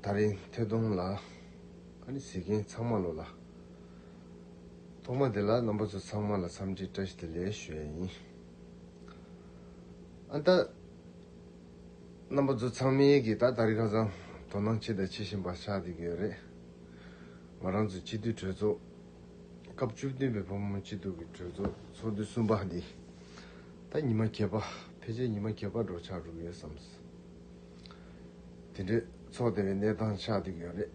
ད་རིང་ཐོས་དུང་ལ། ཁ་ནི་ཟིག་མཁན་ཚང་མ་ལོ་ལ། ཐོག་མ་དེ་ལ་རྣམ་པ་ཚོ་ཚང་མ་ལ་འཚམས་འདྲི་བཀྲ་ཤིས་བདེ་ལེགས་ཞུ་ཡ་ཡིན། ཨ་མདའ། རྣམ་པ་ཚོ་ཚང་མའི་གིས་ད་ད་རིང་ཁ་སང་དོ་སྣང་ཆེ་དང་ཆེ་བཞིན་པ་ཆགས་བསྡད་ཀྱི་ཡོད་རེད། ང་རང་ཚོ་སྤྱི་འཐུས་གྲོས་ཚོགས། སྐབས་བཅུ་བདུན་པའི་བུ་མོ་སྤྱི་འཐུས་ཀྱི་གྲོས་ཚོགས་ཚོགས་དུས་གསུམ་པ་འདི། ད་ཉི་མ་གད་པ་ཕལ་ཆེར་ཉི་མ་གད་པ་འགྲོ་ཆགས་གྲུབ་ཡོད་བསམས། དེ་འདྲའི་ཚོགས་དེ་བས་གནས་སྟངས་ཆགས་འདུག་ཡོད་རེད།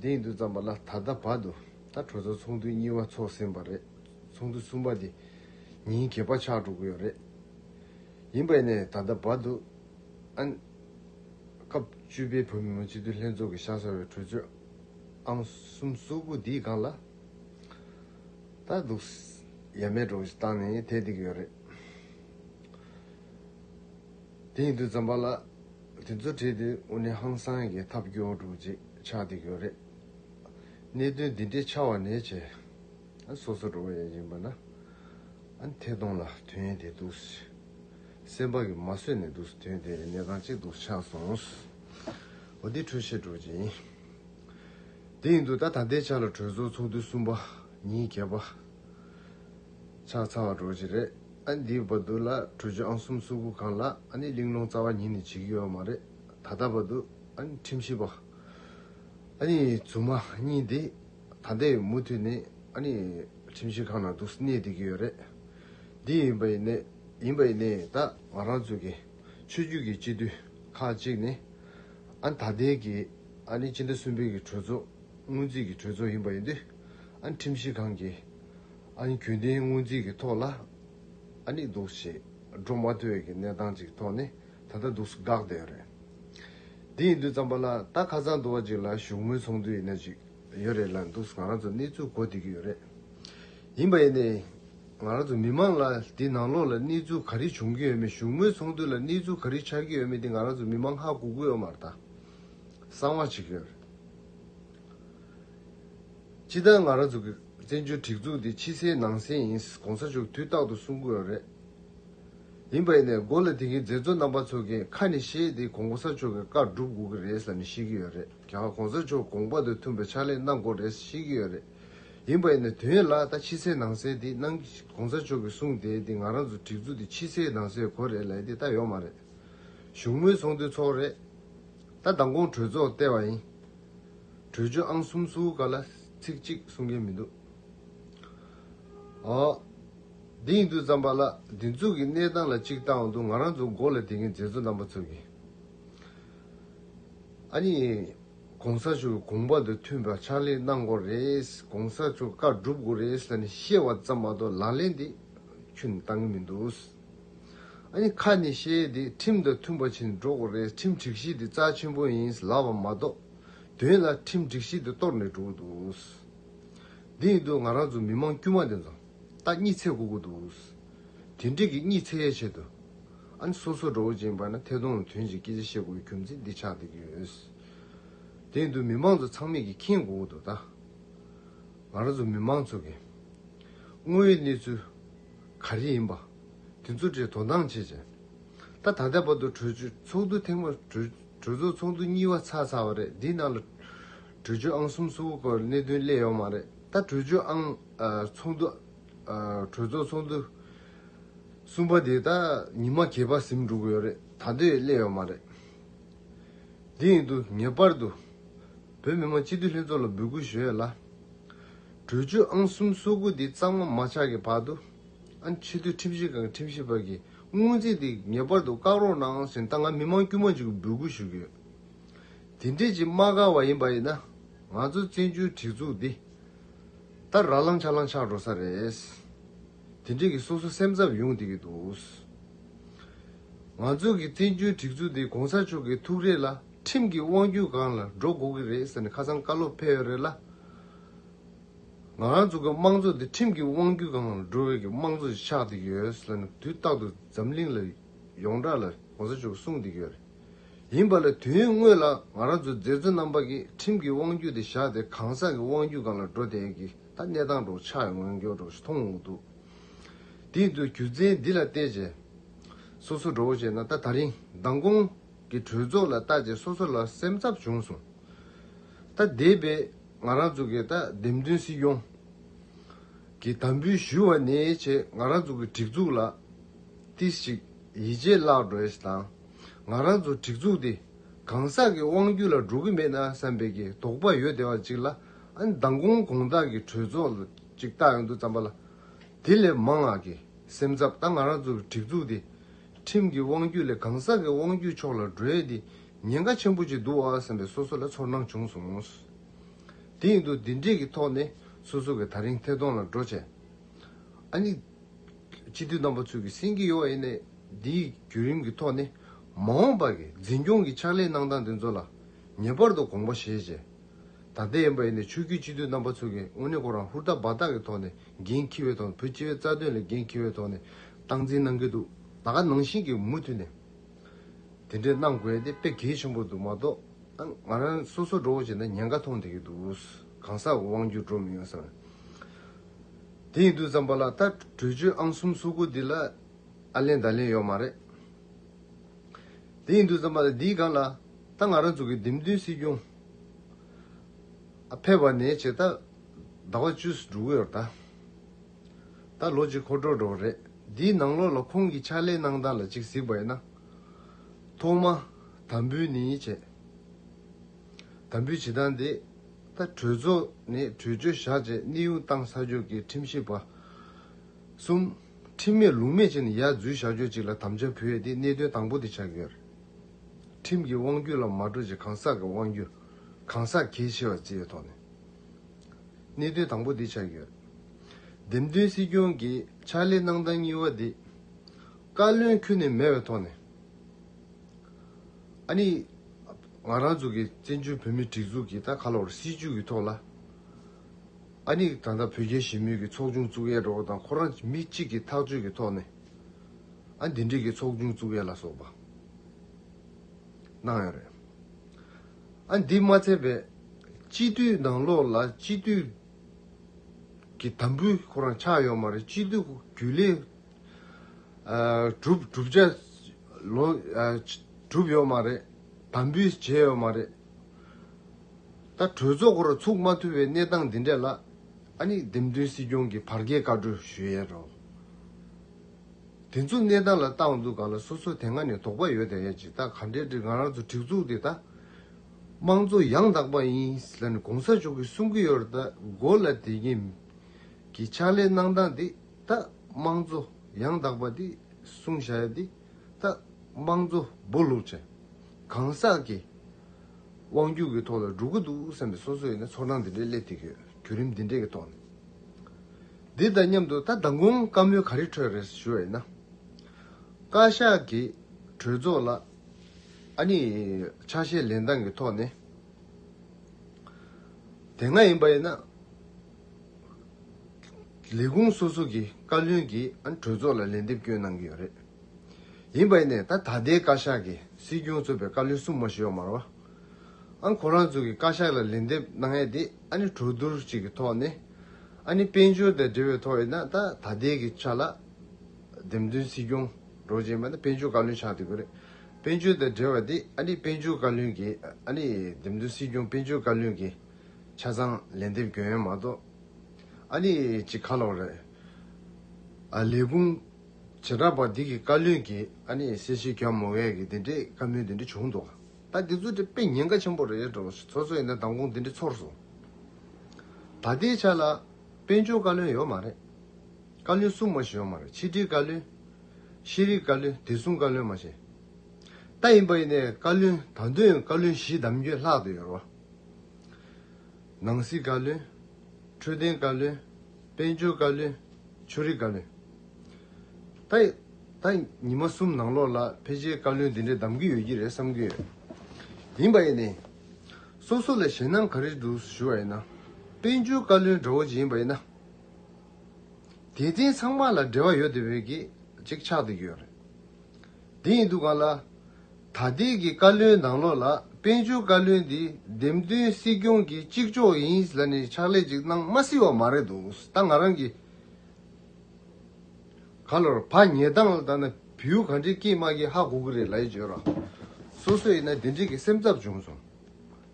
འདི་ཡིན་དུས་བརྩམས་པ་ལ་ད་ལྟ་བར་དུ་ད་གྲོས་ཚོགས་ཚོགས་འདུ་གཉིས་བ་ཚོགས་ཟིན་པ་རེད་ཚོགས་འདུ་གསུམ་པ་དེ་ཉིན་གྱི་བར་ཆགས་འགྲོ་གི་ཡོད་རེད། ཡིན་པས་ནས་ད་ལྟ་བར་དུ་ཨན། སྐབས་བཅུ་པའི་བོད་མི་མང་སྤྱི་འཐུས་ལྷན་ཚོགས་ཀྱི་ཤག་སར་བའི་གྲོས་ཆོད་ཨང་གསུམ་གསུར་བུ་འདིའི་སྒང་ལ་ད་འདུག་ཡ་མེད་འགྲོ་གི་སྟངས་ནས་བསྡད་འདུག་ཡོད་རེད། དེ་ཡིན་དུས་འཛམ་བུ་ལ་དེ་ཚོ་བྲིས་དུས་དབུ་ནི་ཧང་སང་གི་ཐབས་སྐྱོ་དྲུག་ཅིག་ཆགས་འདུག་ཡོད་རེད། གནད་དོན་འདི་འདྲའི་ཆགས་བ་ནས་ཆེ། སོ་སོ་འགྲོ་བ་ཡང་ཡིན་པ་ན། ཐད་གཏོང་ལ་དོན་ཡིན་དེ་འདུག། སེམས་པ་གི་མ་བཟོད་ནས་འདུག་དོན་དེ་ནི་གནས་སྟངས་གཅིག་འདུག་ཆགས་སོང། འོ་འདི་འཕྲོས་བཤད་དྲུག་ཅིག་ཡིན། དེ་ཡིན་དུས་ད་ད་ལྟའི་ཆ་ལ་གྲོས་ཚོགས་ཚོགས་དུས་གསུམ་པ་ཉིན་བརྒྱད་པ་ཆགས་ཚར་བ་འགྲོ་གི་རེད་ཨ་ནི་འདིའི་བར་དུ་ལ་གྲུ་ཆུང་ཨང་གསུམ་སུག་པོ་གང་ལ་ཨ་ནི་གླིང་སློང་རྩ་བ་ཉིད་ནས་བྱེད་ཀྱི་ཡོད་མ་རེད་ད་ལྟ་བར་དུ་ཨ་ནི་ཁྲིམས་ཞིབ་པ་ཨ་ནི་རྫུན་མ་གཉིས་འདི་ད་ལྟའི་མུ་མཐུད་ནས་ཨ་ནི་ཁྲིམས་ཞིབ་ཁང་ནང་འདུག་གནས་བསྡད་ཀྱི་ཡོད་རེད་འདི་ཡིན་པ་ཡིན་ཡིན་པ་ཡིན་ནས་ད་ང་རང་ཚོ་གི་ཆོས་བརྒྱུད་ཀྱི་སྤྱི་འཐུས་ཁག་ཅིག་ནས་ཨ་ནི་ད་ལྟའི་གི་ཨ་ནི་སྤྱི་ཟླ་གསུམ་པའི་གི་གྲོས་ཚོགས་སྔོན་རྩིས་ཀྱི་གྲོས་ཚོགས་ཡིན་པ་ཡིན་དུས། ཨ་ཁྲིམས་གཞི་གང་གིས་ཨ་ནི་གྱོད་དོན་སྔོན་རྩིས་ཀྱི་ཐོག་ལ་ཨ་ནི་འདུག་ཞེས་སྒྲོག་མ་ཐོས་ཀྱི་གནས་སྟངས་ཅིག་ཐོག་ནས་ད་ལྟ་འདུག་སུ་དགག་བསྡད་ཡོད་རེད། དེ་ཡིན་དུས་བརྩམས་པ་ལ་ད་ཁ་སང་དུ་བ་ཅིག་ལ་བཞུགས་མོལ་ཚོགས་འདུ་ཡི་ན་ཅིག་ཡོད་རེད་ལ་འདུག་ང་རང་ཚོ་གནས་ཚུལ་གོ་བསྡད་ཀྱི་ཡོད་རེད། ཡིན་པ་ཡིན་ནའི། ང་རང་ཚོ་མི་མང་ལ་དེ་ནང་ལོགས་ལ་གནས་ཚུལ་ག་རེ་བྱུང་གི་ཡོད་མེད་བཞུགས་མོལ་ཚོགས་འདུ་ལ་གནས་ཚུལ་ག་རེ་ཆགས་ཀྱི་ཡོད་མེད་དེ་ང་རང་ཚོ་མི་མང་ཧ་གོ་གི་ཡོད་མ་རེད་ད། གསང་བ་བྱེད་ཀྱི་ཡོད་རེད། སྤྱི་བཏང་ང་རང་ཚོ་གི་བཙན་བྱོལ་སྒྲིག་འཛུགས་དེ་ཕྱི་གསལ་ནང་གསལ་ཡིན་གོང་ས་མཆོག་དུས་རྟག་ཏུ་གསུང་དགོས་ར་རེད། ཡིན་པ་ཡིན་ནས་མགོ་ལ་དེང་གི་མཛད་གཙོ་རྣམ་པ་ཚོ་གི་ཁ་ནས་བཤད་དེ་གོང་ས་མཆོག་གི་བཀའ་བསྒྲུབ་དགོས་ཀྱི་རེད་ས་ནས་བཤད་ཀྱི་ཡོད་རེད་ག་གོང་ས་མཆོག་དགོངས་པ་དང་མཐུན་པའི་ཕྱག་ལས་གནང་དགོས་རེད་བཤད་ཀྱི་ཡོད་རེད། ཡིན་པ་ཡིན་ནས་དོན་ཡོད་ལ་ད་ཕྱི་གསལ་ནང་གསལ་དེ་གནང་གོང་ས་མཆོག་གི་གསུང་དེ་དེ་ང་རང་ཚོ་སྒྲིག་འཛུགས་དེ་ཕྱི་གསལ་ནང་གསལ་གོ་རེད་ལ་དེ་ད་ཡོད་མ་རེད། བཞུགས་མོལ་ཚོགས་འདུ་ཚོགས་རེད། ད་མདང་དགོང་གྲོས་ཚོགས་བལྟས་པ་ཡིན། བྲོས་བྱོལ་ཨང་གསུམ་སུའུ་ཀ་ལ་ཚིག་གཅིག་གསུང་མཁན་མི་འདུག་ཨ། འདི་ཡིན་དུས་རྩམ་པ་ལགས་འདི་འཛུགས་ཀྱི་གནས་སྟངས་ལ་གཅིག་བལྟའང་འདུག་ང་རང་ཚོ་མགོ་ལ་དེད་མཁན་མཛད་གཙོ་རྣམ་པ་ཚོ་གི། ཨ་ནི། གོང་ས་མཆོག་གི་དགོངས་པ་དང་མཐུན་པའི་ཕྱག་ལས་གནང་དགོས་རེད། གོང་ས་མཆོག་བཀའ་སྒྲུབ་དགོས་རེད་ལ་ནི་བཤད་བ་ཙམ་མ་གཏོགས་ལག་ལེན་དེ་ཁྱོད་ནི་བཏང་གི་མི་འདུག། ཨ་ནི་ཁ་ནས་བཤད་དེ་ཁྲིམས་དང་མཐུན་པ་བྱེད་འགྲོ་དགོས་རེད་ཁྲིམས་སྒྲིག་གཞི་དེ་རྩ་ཆེན་པོ་ཡིན་ལབ་པ་མ་གཏོགས་དོན་ལ་ཁྲིམས་སྒྲིག་གཞི་དེ་གཏོར་ནས་འགྲོ་གི་འདུག་འདི་ཡིན་དུས་ང་རང་ཚོ་མི་མང་དཀྱུས་མ་དེ་ཚོ་ད་གཉིད་ཚད་གོ་གི་འདུག་དེ་འགྲིག་གི་གཉིད་ཚད་ཡས་ཆེད་དུ་ཨ་ནི་སོ་སོ་འགྲོ་བོ་ཅན་པ་ན་ཐད་གཏོང་ལ་དོན་གྱི་སྐད་ཆ་བཤད་དགོས་ཀྱི་རྒྱུ་མཚན་འདི་ཆགས་བསྡད་ཀྱི་ཡོད་དེ་ཡིན་དུས་མི་མང་ཚོ་ཚང་མེད་ཀྱི་མཁྱེན་གོ་གི་འདུག་ད་ང་རང་ཚོ་མི་མང་ཚོ་གི་དངོས་ཡོད་གནས་ཚུལ་ག་རེ་ཡིན་པ། དེ་ཚོ་གྲས་དོ་སྣང་བྱེད་ཅིང། ད་ད་ལྟའི་བར་དུ་གྲོས་ཆོད་ཚོགས་འདུ་ཐེངས་མ། གྲོས་ཚོགས་ཚོགས་འདུ་གཉིས་བ་ཚར་ཚར་བ་རེད་འདིའི་ནང་ལ། གྲོས་ཆོད་ཨང་གསུམ་སུ་བོ་བར་གནད་དོན་གླས་ཡོག་མ་རེད་ད་གྲོས་ཆོད་ཨང། ཚོགས་འདུ། གྲོས་ཚོགས་ཚོགས་འདུ། གསུམ་བ་དེ་ད་ཉིན་མ་གས་པ་ཟིམ་འགྲོ་གི་ཡོག་རེད་ད་དེ་གླས་ཡོག་མ་རེད། དེ་ཡིན་དུ་ངེས་པར་དུ། བོད་མི་མང་སྤྱི་འཐུས་ལྷན་ཚོགས་ལ་འབོད་སྐུལ་ཞུ་ཡ་ལ། གྲོས་ཆོད་ཨང་གསུམ་གསོག་སྒུག་འདི་གཙང་མ་མ་ཆགས་ཀྱི་བར་དུ། ཨ་ཕྱི་འཐུས་ཁྲིམས་ཞིབ་ཁང་ཁྲིམས་ཞིབ་པ་གིས་སྔོན་རྩིས་འདི་ངེས་པར་དུ་བཀག་རོགས་གནང་ཟེར་ད་ང་མི་མང་དཀྱུས་མ་འཇུག་གི་འབོད་སྐུལ་ཞུ་གི་ཡོད། དེ་འདྲས་ཀྱི་དམག་སྒར་བ་ཡིན་པ་ཡིན་ན། ང་ཚོ་བཙན་བྱོལ་སྒྲིག་འཛུགས་འདི། ད་ར་ལང་ཆ་ལང་ཆགས་འགྲོ་ས་རེད། དེ་འདྲས་ཀྱི་སོ་སོ་སེམས་འཚབ་ཡོང་སྡིག་གི་འདུག། ང་ཚོ་གི་བཙན་བྱོལ་སྒྲིག་འཛུགས་འདི་གོང་ས་མཆོག་གི་ཐུགས་རེ་ལ། ཁྲིམས་ཀྱི་དབང་བརྒྱུད་གང་ལ་འགྲོ་དགོས་ཀྱི་རེད་ཟེར་ནས་ཁ་སང་བཀའ་སློབ་ཕེབས་ཡོད་རེད་ལ། ང་རང་ཚོ་གི་དམངས་གཙོ་དེ་ཁྲིམས་ཀྱི་དབང་བརྒྱུད་གང་ལ་འགྲོ་བའི་གི་དམངས་གཙོ་ཞིག་ཆགས་འདུག་ཡོད་ཟེར་ནས་དུས་རྟག་ཏུ་འཛམ་གླིང་ལ་ཡོངས་གྲགས་ལ་གོང་ས་མཆོག་གིས་གསུངས་འདུག་ཡོད་རེད། ཡིན་པ་ལ་དུས་ཡུན་དངོས་ལ་ང་རང་ཚོ་མཛད་གཙོ་རྣམ་པ་གིས་ཁྲིམས་ཀྱི་དབང་བརྒྱུད་དེ་བཞག་སྟེ་གང་ཟག་གི་དབང་བརྒྱུད་གང་ལ་འགྲོ་དེའི་གི་ད་གནས་སྟངས་གྲོགས་ཆགས་ཡོད་ངོས་འགྱོགས་གྲོགས་ཞིག་མཐོང་འོང་འདུག་དེ་ཡིན་དུས་རྒྱུ་མཚན་འདི་ལ་བལྟས་རྗེས་སོ་སོ་འགྲོ་བོ་བྱས་ན་ད་ད་རིང་མདང་དགོང། གི་གྲོས་ཚོགས་ལ་བལྟ་རྗེས་སོ་སོ་ལ་སེམས་འཚབ་བྱུང་སོང། ད་འདས་པའི་ང་རང་ཚོ་གི་དད་ལྡན་སྲིད་སྐྱོང་གིས་དམ་འབུལ་ཞུས་བ་ནི་ཆེས་ང་རང་ཚོ་གི་སྒྲིག་འཛུགས་ལ་ཏིག་ཞིག་ཡིད་ཆེས་བརླག་འགྲོ་ཡས་དང་ང་རང་ཚོ་སྒྲིག་འཛུགས་དེ་གང་ཟག་གི་དབང་བརྒྱུད་ལ་འགྲོ་གི་མེད་ན་བསམ་པའི་གི་དོགས་པ་ཡོད་བདེ་བ་ཅིག་ལ་ཨ་ནི་ད་དགོང་དགོང་དག་གི་གྲོས་ཚོགས་ཅིག་བལྟ་ཡོང་དུས་བརྩམས་པ་ལ་དེ་ལས་མང་ང་གི་སེམས་འཚབ་ད་ང་རང་ཚོ་གི་སྒྲིག་འཛུགས་དེ། ཁྲིམས་ཀྱི་དབང་བརྒྱུད་ལས་གང་ཟག་གི་དབང་བརྒྱུད་ཕྱོགས་ལ་འགྲོས་ཏེ་ཉེན་ཁ་ཆེན་པོ་ཅིག་འདུག་ཨ་བསམ་པའི་སོ་སོ་ལ་ཚོར་སྣང་བྱུང་སོང། དེ་ཡིན་དུ་འདི་འདྲིས་ཀྱི་ཐོག་ནས་སོ་སོ་གི་ཐག་རིང་ཐད་གཏོང་ལ་འགྲོ་ཆེ། ཨ་ནི། སྤྱི་འཐུས་རྣམ་པ་ཚོས་ཀྱི་སེམས་ཀྱི་གཡོ་བ་ཡིན་ནའི་འདིའི་བརྒྱུད་རིམ་གྱི་ཐོག་ནས་མ་འོངས་པར་གྱི་འཛིན་སྐྱོང་གི་ཕྱག་ལས་གནང་སྟངས་དེ་ཚོ་ལ་ངེས་པར་དུ་དགོངས་པ་བཞེས་ཆེ། ད་ལྟའི་ཨེམ་པའེ་ནི་ཆོས་བརྒྱུད་སྤྱི་འཐུས་རྣམ་པ་ཚོ་གིས་དངོས་གནས་ཁོ་རང་ཧུར་ཐག་འབའ་ཐག་གི་ཐོག་ནས་འགན་འཁྱེར་བའི་ཐོག་ནས་བོད་སྤྱི་བའི་རྩ་དོན་ལ་འགན་འཁྱེར་བའི་ཐོག་ནས་སྟངས་འཛིན་གནང་གི་འདུག་ད་ག་ནང་བཞིན་གྱི་མུ་མཐུད་ནས་དེ་འདྲས་གནང་དགོས་དེ་དཔེ་གལ་ཆེན་པོ་འདུག་མ་གཏོགས་ང་ང་རང་སོ་སོ་འགྲོ་བ་བྱས་ན་ཉེན་ཁ་མཐོང་བསྡད་ཀྱི་འདུག་གང་ཟག་དབང་བསྒྱུར་འགྲོ་མི་ཡོང་ས་རེད། དེ་ཡིན་དུས་ཙམ་པ་ལ་ད་བྲོས་བྱོལ་ཨང་གསུམ་སོ་དགུ་འདི་ལ་ཨ་ལན་བརྡ་ལན་ཡོད་མ་རེད། དེ་ཡིན་དུས་ཙམ་པ་ལ་འདིའི་སྒང་ལ་ད་ང་རང་ཚོ་གི་འདེམས་ཐོན་སྲིད་སྐྱོང། ཕལ་བ་ནས་བྱེད། ཟླ་བ་བཅུ་སུ་འབྲུག་འོད་ཟླ། ད་ལོ་གཅིག་ཁོ་འགྲོ་འགྲོ་རེད། འདིའི་ནང་ལོགས་ལ་ཁོང་གི་ཕྱག་ལས་གནང་སྟངས་ལ་ཅིག་གཟིགས་པ་ཡིན་ན། ཐོག་མ། དམ་འབུལ་ནི་བྱས། དམ་འབུལ་བྱེད་སྟངས་དེ། ད་གྲོས་ཚོགས་ནས་གྲོས་ཆོད་བཞག་རྗེས་གནས་དབྱུང་སྟངས་ས་ཕྱོགས་ཀྱི་ཁྲིམས་ཞིབ་པ། གསུམ། ཁྲིམས་མེད་ལུགས་མེད་བྱས་ནས་ཡར་འཛུལ་བཞག་ཕྱོགས་གཅིག་ལ་དམ་བཅའ་བུད་ཡས་ཏེ་གནད་དོན་དང་པོ་དེ་ཆགས་ཀྱི་ཡོད་རེད། ཁྲིམས་ཀྱི་དབང་བརྒྱུད་ལ་མ་གྲོས་ཀྱི་གང་ཟག་གི་དབང་བརྒྱུད། གང་ཟག་གལ་ཆེ་བ་བཅས་ཐོག་ནས། གནད་དོན་དང་པོ་འདི་ཆགས་ཡོད། འདེམས་ཐོན་སྲིད་སྐྱོང་གི་ཕྱག་ལས་གནང་སྟངས་གཉིས་བ་འདི། བཀའ་བློན་ཁུལ་ནས་མེད་པའི་ཐོག་ནས། ཨ་ནི། ང་རང་ཚོ་གི་བཙན་བྱོལ་བོད་མིའི་སྒྲིག་འཛུགས་ཀྱིས་ད་ག་ལ་བར་སྲིད་བྱུས་ཀྱི་ཐོག་ལ། ཨ་ནི། ད་ལྟ་བོད་རྒྱའི་ཞི་མོལ་གྱི་ཚོགས་ཆུང་བཙུགས་ཡས་འགྲོ་བ་དང་ཁོ་རང་མི་གཅིག་གི་ཐག་གཅོད་ཀྱི་ཐོག་ནས། ཨ་འདི་འདྲས་ཀྱི་ཚོགས་ཆུང་བཙུགས་ཡས་ལ་སོགས་པ་གནང་ཡས་རེད། ཨ་འདི་མ་ཚད་པའི་སྤྱི་འཐུས་ནང་ལོགས་ལ་སྤྱི་འཐུས་ཀྱི་དམ་འབུལ་ཁོ་རང་ཆགས་ཡོད་མ་རེད་སྤྱི་འཐུས་རྒྱུན་ལས་གྲུབ་གྲུབ་བྱས་ལོ་གྲུབ་ཡོད་མ་རེད་དམ་འབུལ་བྱས་ཡོད་མ་རེད། ད་གྲོས་ཚོགས་ཁོ་རང་ཚུགས་མ་ཐུབ་པའི་གནས་སྟངས་འདི་འདྲས་ལ་ཨ་ནི་འདེམས་ཐོན་སྲིད་སྐྱོང་གི་བར་བརྒལ་བཀའ་འཁྲོལ་ཞུ་ཡས་རོགས། དེ་ཚོ་གནས་སྟངས་ལ་ཏང་འཛུགས་གང་ལ་སོ་སོ་དེ་སྔ་ནས་དོགས་པ་ཡོད་དམ་ཡང་ཅི་ད་ག་འདྲའི་འདྲི་གང་རང་ཚོ་སྒྲིག་འཛུགས་དེ་ད་དམངས་གཙོ་ཡང་དག་པ་ཡིན་ཟེར་ནས་གོང་ས་མཆོག་གིས་གསུང་གི་ཡོད་རེད་ད་མགོ་ལ་དེ་གཉིས་ཀྱི་ཕྱག་ལས་གནང་སྟངས་དེ་ད་དམངས་གཙོ་ཡང་དག་པ་དེ་གསུང་བྱ་ཡ་དེ་ད་དམངས་གཙོ་སྦོ་ལུག་བྱ་གང་ཟག་གི། དབང་སྒྱུར་གྱི་ཐོག་ལ་འགྲོ་གི་འདུག་བསམ་པའི་སོ་སོ་ཡིན་ན་ཚོགས་ཁང་འདི་འདྲའི་སླེབས་ཐུབ་ཡོད་བརྒྱུད་རིམ་འདི་འདྲའི་གི་ཐོག་ནས། འདི་དང་མཉམ་དུ་ད་ལྟ་མགོན་དཀར་མོའི་ག་རེ་འཕྲོས་རེད་ཞུ་བ་ཡིན་ན། བཀའ་ཤག་གི་གྲོས་ཚོགས་ལ་ཨ་ནི་ཕྱག་བཞེས་ལེན་སྟངས་ཀྱི་ཐོག་ནས། དེ་སྔ་ཡིན་པ་ཡིན་ན། ལས་ཁུངས་སོ་སོ་གི་བཀའ་བློན་གྱིས་ཨ་ནི་གྲོས་ཚོགས་ལ་ལན་འདེབས་སྐྱོན་གནང་གི་ཡོད་རེད། ཡིན་པ་ཡིན་ནས་ད་ད་ལྟའི་བཀའ་ཤག་གི་སྲིད་སྐྱོང་གཙོས་པའི་བཀའ་བློན་གསུམ་མ་ཞུས་ཡོག་མར་བ། ཨ་ཁོ་རང་ཚོ་གི་བཀའ་ཤག་ལ་ལན་འདེབས་གནང་ཡས་དེ་ཨ་ནི་གྲོས་བསྡུར་གཅིག་གི་ཐོག་ནས་ཨ་ནི་དཔལ་འབྱོར་དང་འབྲེལ་བའི་ཐོག་ཡིན་ན་ད་ད་ལྟའི་གི་ཆ་ལ་འདེམས་ཐོན་སྲིད་སྐྱོང་གྲོགས་ཅན་པ་ནི་དཔལ་འབྱོར་བཀའ་བློན་ཆགས་དུས་པ་རེད། དཔལ་འབྱོར་དང་འབྲེལ་བ་དེ་ཨ་ནི་དཔལ་འབྱོར་བཀའ་བློན་གི་ཨ་ནི་འདེམས་ཐོན་སྲིད་སྐྱོང་དཔལ་འབྱོར་བཀའ་བློན་གི་ཆ་ཚང་ལན་འདེབས་གྱོན་ཡས་མ་གཏོགས་ཨ་ནི་ཅི་ཁ་ལོག་རེད། ཨ་ལས་ཁུང། བྱེ་བྲག་པ་འདི་གི་བཀའ་བློན་གྱི་ཨ་ནེ་ཡི་སྲས་ཆོས་སྐྱོང་མོ་ཝེ་ཡི་དེ་འདྲའི་བཀའ་མོལ་འདི་འདྲ་བྱུང་འདུག་ད་འདི་ཚོ་འདྲ་དཔེ་ཉེན་ཁ་ཆེན་པོ་རེད་འགྲོ་ཚོ་ཚོ་ཡིན་ན་མདང་དགོང་འདི་འདྲ་ཚོར་སོང། ད་ལྟའི་ཆ་ལ་དཔལ་འབྱོར་བཀའ་བློན་ཡོད་མ་རེད། བཀའ་བློན་སྲུང་མ་ཞིག་ཡོད་མ་རེད་ཕྱི་དྲིལ་བཀའ་བློན། ཤེས་རིག་བཀའ་བློན་བདེ་སྲུང་བཀའ་བློན་མ་བྱེད། ད་ཡིན་པ་ཡིན་ནའི་བཀའ་བློན་ད་དོན་བཀའ་བློན་བཞི་བདམས་རྒྱུ་ལྷག་ཏུ་ཡོད་རེད་བ། ནང་སྲིད་བཀའ་བློན། འཕྲོད་བསྟེན་བཀའ་བློན། དཔལ་འབྱོར་བཀའ་བློན། ཆོས་རིག་བཀའ་བློན། ད་ཉི་མ་གསུམ་ནང་ལོགས་ལ་ཕལ་ཆེར་བཀའ་བློན་འདི་འདྲ་གདམ་གྱི་ཡོད་ཀྱི་རེད་བསམ་གྱི་ཡོད། ཡིན་པ་ཡིན་ནའི། སོ་སོ་ལ་ཞེད་སྣང་ག་རེ་འདུག་ཞུ་བ་ཡིན་ན། དཔལ་འབྱོར་བཀའ་བློན་དགྲ་བོ་ཅིག་ཡིན་པ་ཡིན་ན། དེ་རྟེན་ཚང་མ་ལ་འབྲེལ་བ་ཡོད་དེ་བས་ཀྱི་གཅིག་ཆགས་འདུག་ཡོད་རེད། དེ་ཡིན་འདུག་ག་ལ། ད་ལྟའི་གི་བཀའ་བློན་ནང་ལོག་ལ་དཔལ་འབྱོར་བཀའ་བློན་འདི་འདེམས་ཐོན་སྲིད་སྐྱོང་གི་གཅིག་ལྕོགས་ཡིན་ཟེར་ནས་ཕྱག་ལས་ཅིག་གནང་མ་སྲིད་བ་མ་རེད་འདུག་ད་ང་རང་གི་ག་ལོར་བག་ཉལ་སྟངས་ལ་བལྟ་ན་བེའུ་ག་འདྲའི་སྐྱིད་མ་གི་ཧ་གོ་གི་རེད་ལ་ཡིན་བརྗོད་ར་སོ་སོ་ཡིན་ན་དེ་འདྲའི་གི་སེམས་ཚབ་བྱུང་སོང།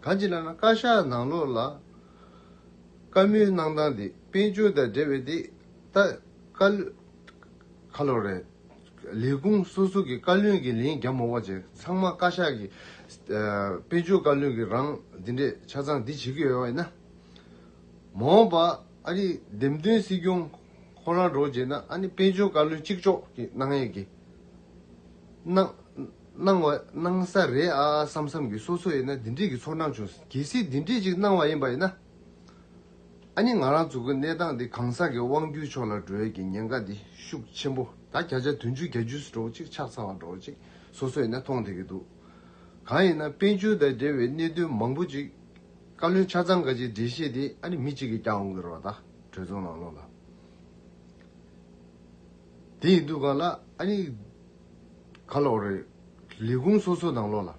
གང་ཅི་ལ་ན་བཀའ་ཤག་ནང་ལོག་ལ་བཀའ་མོལ་གནང་སྟངས་འདི་དཔལ་འབྱོར་དང་འབྲེལ་བའི་འདི་ད་བཀའ་བློན་ག་ལོར་རེད། ལས་ཁུངས་སོ་སོ་གི་བཀའ་བློན་གྱི་ལན་བརྒྱབ་མོ་བ་བཅས་ཚང་མ་བཀའ་ཤག་གི་དཔལ་འབྱོར་བཀའ་བློན་གྱི་རང་འདི་འདྲས་ཆ་ཚང་འདི་བྱེད་ཀྱི་ཡོད་བས་ན། མ་འོངས་པ་ཨ་རིའི་འདེམས་ཐོན་སྲིད་སྐྱོང་ཁོ་རང་འགྲོ་རྗེས་ན་ཨ་ནི་དཔལ་འབྱོར་བཀའ་བློན་གཅིག་ལྕོགས་ཀྱི་གནང་ཡས་ཀྱི་གནང་བ་གནང་ས་རེད་ཨ་བསམ་བསམ་གྱི་སོ་སོ་ཡས་ན་འདི་འདྲས་ཀྱི་ཚོར་སྣང་བྱུང་གལ་སྲིད་འདི་འདྲས་ཅིག་གནང་བ་ཡིན་པ་ཡིན་ན། ཨ་ནི་ང་རང་ཚོ་གི་གནས་སྟངས་འདི་གང་ཟག་གི་དབང་སྒྱུར་ཕྱོགས་ལ་འགྲོ་ཡས་ཀྱི་ཉེན་ཁ་འདི་ཤུགས་ཆེན་པོ་ད་བརྒྱ་ཆ་དོན་བཅུ་གྱ་བཅུ་སུ་འགྲོ་ཅིག་ཆགས་ཚར་བ་འགྲོ་ཅིག་སོ་སོས་ནས་མཐོང་བསྡད་ཀྱི་འདུག་གང་ཡིན་ན་དཔལ་འབྱོར་དང་འབྲེལ་བའི་གནད་དོན་མང་པོ་ཅིག་བཀའ་བློན་ཆ་ཚང་འགའ་ཅིག་འགྲེལ་བཤད་དེ་ཨ་ནི་མི་གཅིག་གིས་ཀྱང་འོང་གི་རོགས་ད་གྲོས་ཚོགས་ནང་ལོག་ལ། དེ་ཡིན་དུས་གང་ལ་ཨ་ནི་ག་ལོག་རེད་ལས་ཁུངས་སོ་སོ་ནང་ལོག་ལ།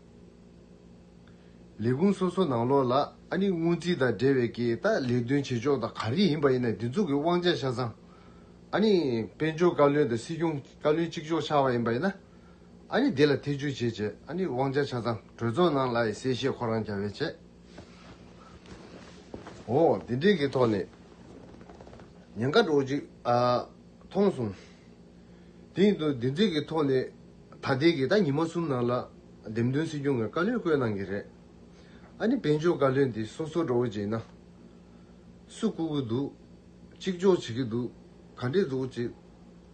ལས་ཁུངས་སོ་སོ་ནང་ལོགས་ལ་ཨ་ནི་སྔོན་རྩིས་དང་འབྲེལ་བའི་གི་ད་ལས་དོན་བྱེད་ཕྱོགས་དང་ག་རེ་ཡིན་པ་ཡིན་ན་དེ་ཚོ་གི་དབང་ཆ་ཆ་ཚང་ཨ་ནི་དཔལ་འབྱོར་བཀའ་བློན་དང་སྲིད་སྐྱོང་བཀའ་བློན་གཅིག་ལྕོགས་ཆགས་པ་ཡིན་པ་ཡིན་ན་ཨ་ནི་དེ་ལ་ཐེ་ཇུས་བྱེད་བྱེད་ཨ་ནི་དབང་ཆ་ཆ་ཚང་གྲོས་ཚོགས་ནང་ལ་ཡི་གསལ་བཤད་ཁོ་རང་རྒྱ་བས་བྱེད། འོ་དེ་འདྲའི་གི་ཐོག་ནས་ཉེན་ཁ་འགྲོ་གཅིག་མཐོང་སོང། དེ་ཡིན་དུ་དེ་འདྲའི་གི་ཐོག་ནས་ད་ལྟའི་གི་ད་ཉི་མ་གསུམ་ནང་ལ་འདེམས་ཐོན་སྲིད་སྐྱོང་གི་བཀའ་བློན་བསྐོས་གནང་གི་རེད། ཨ་ནི་དཔལ་འབྱོར་བཀའ་བློན་དེ་སོ་སོ་འགྲོ་བྱེད་ན། སུ་བསྐོ་གི་འདུག་གཅིག་ལྕོགས་བྱེད་ཀྱི་འདུག་ག་འདྲས་འཛུགས་བྱེད།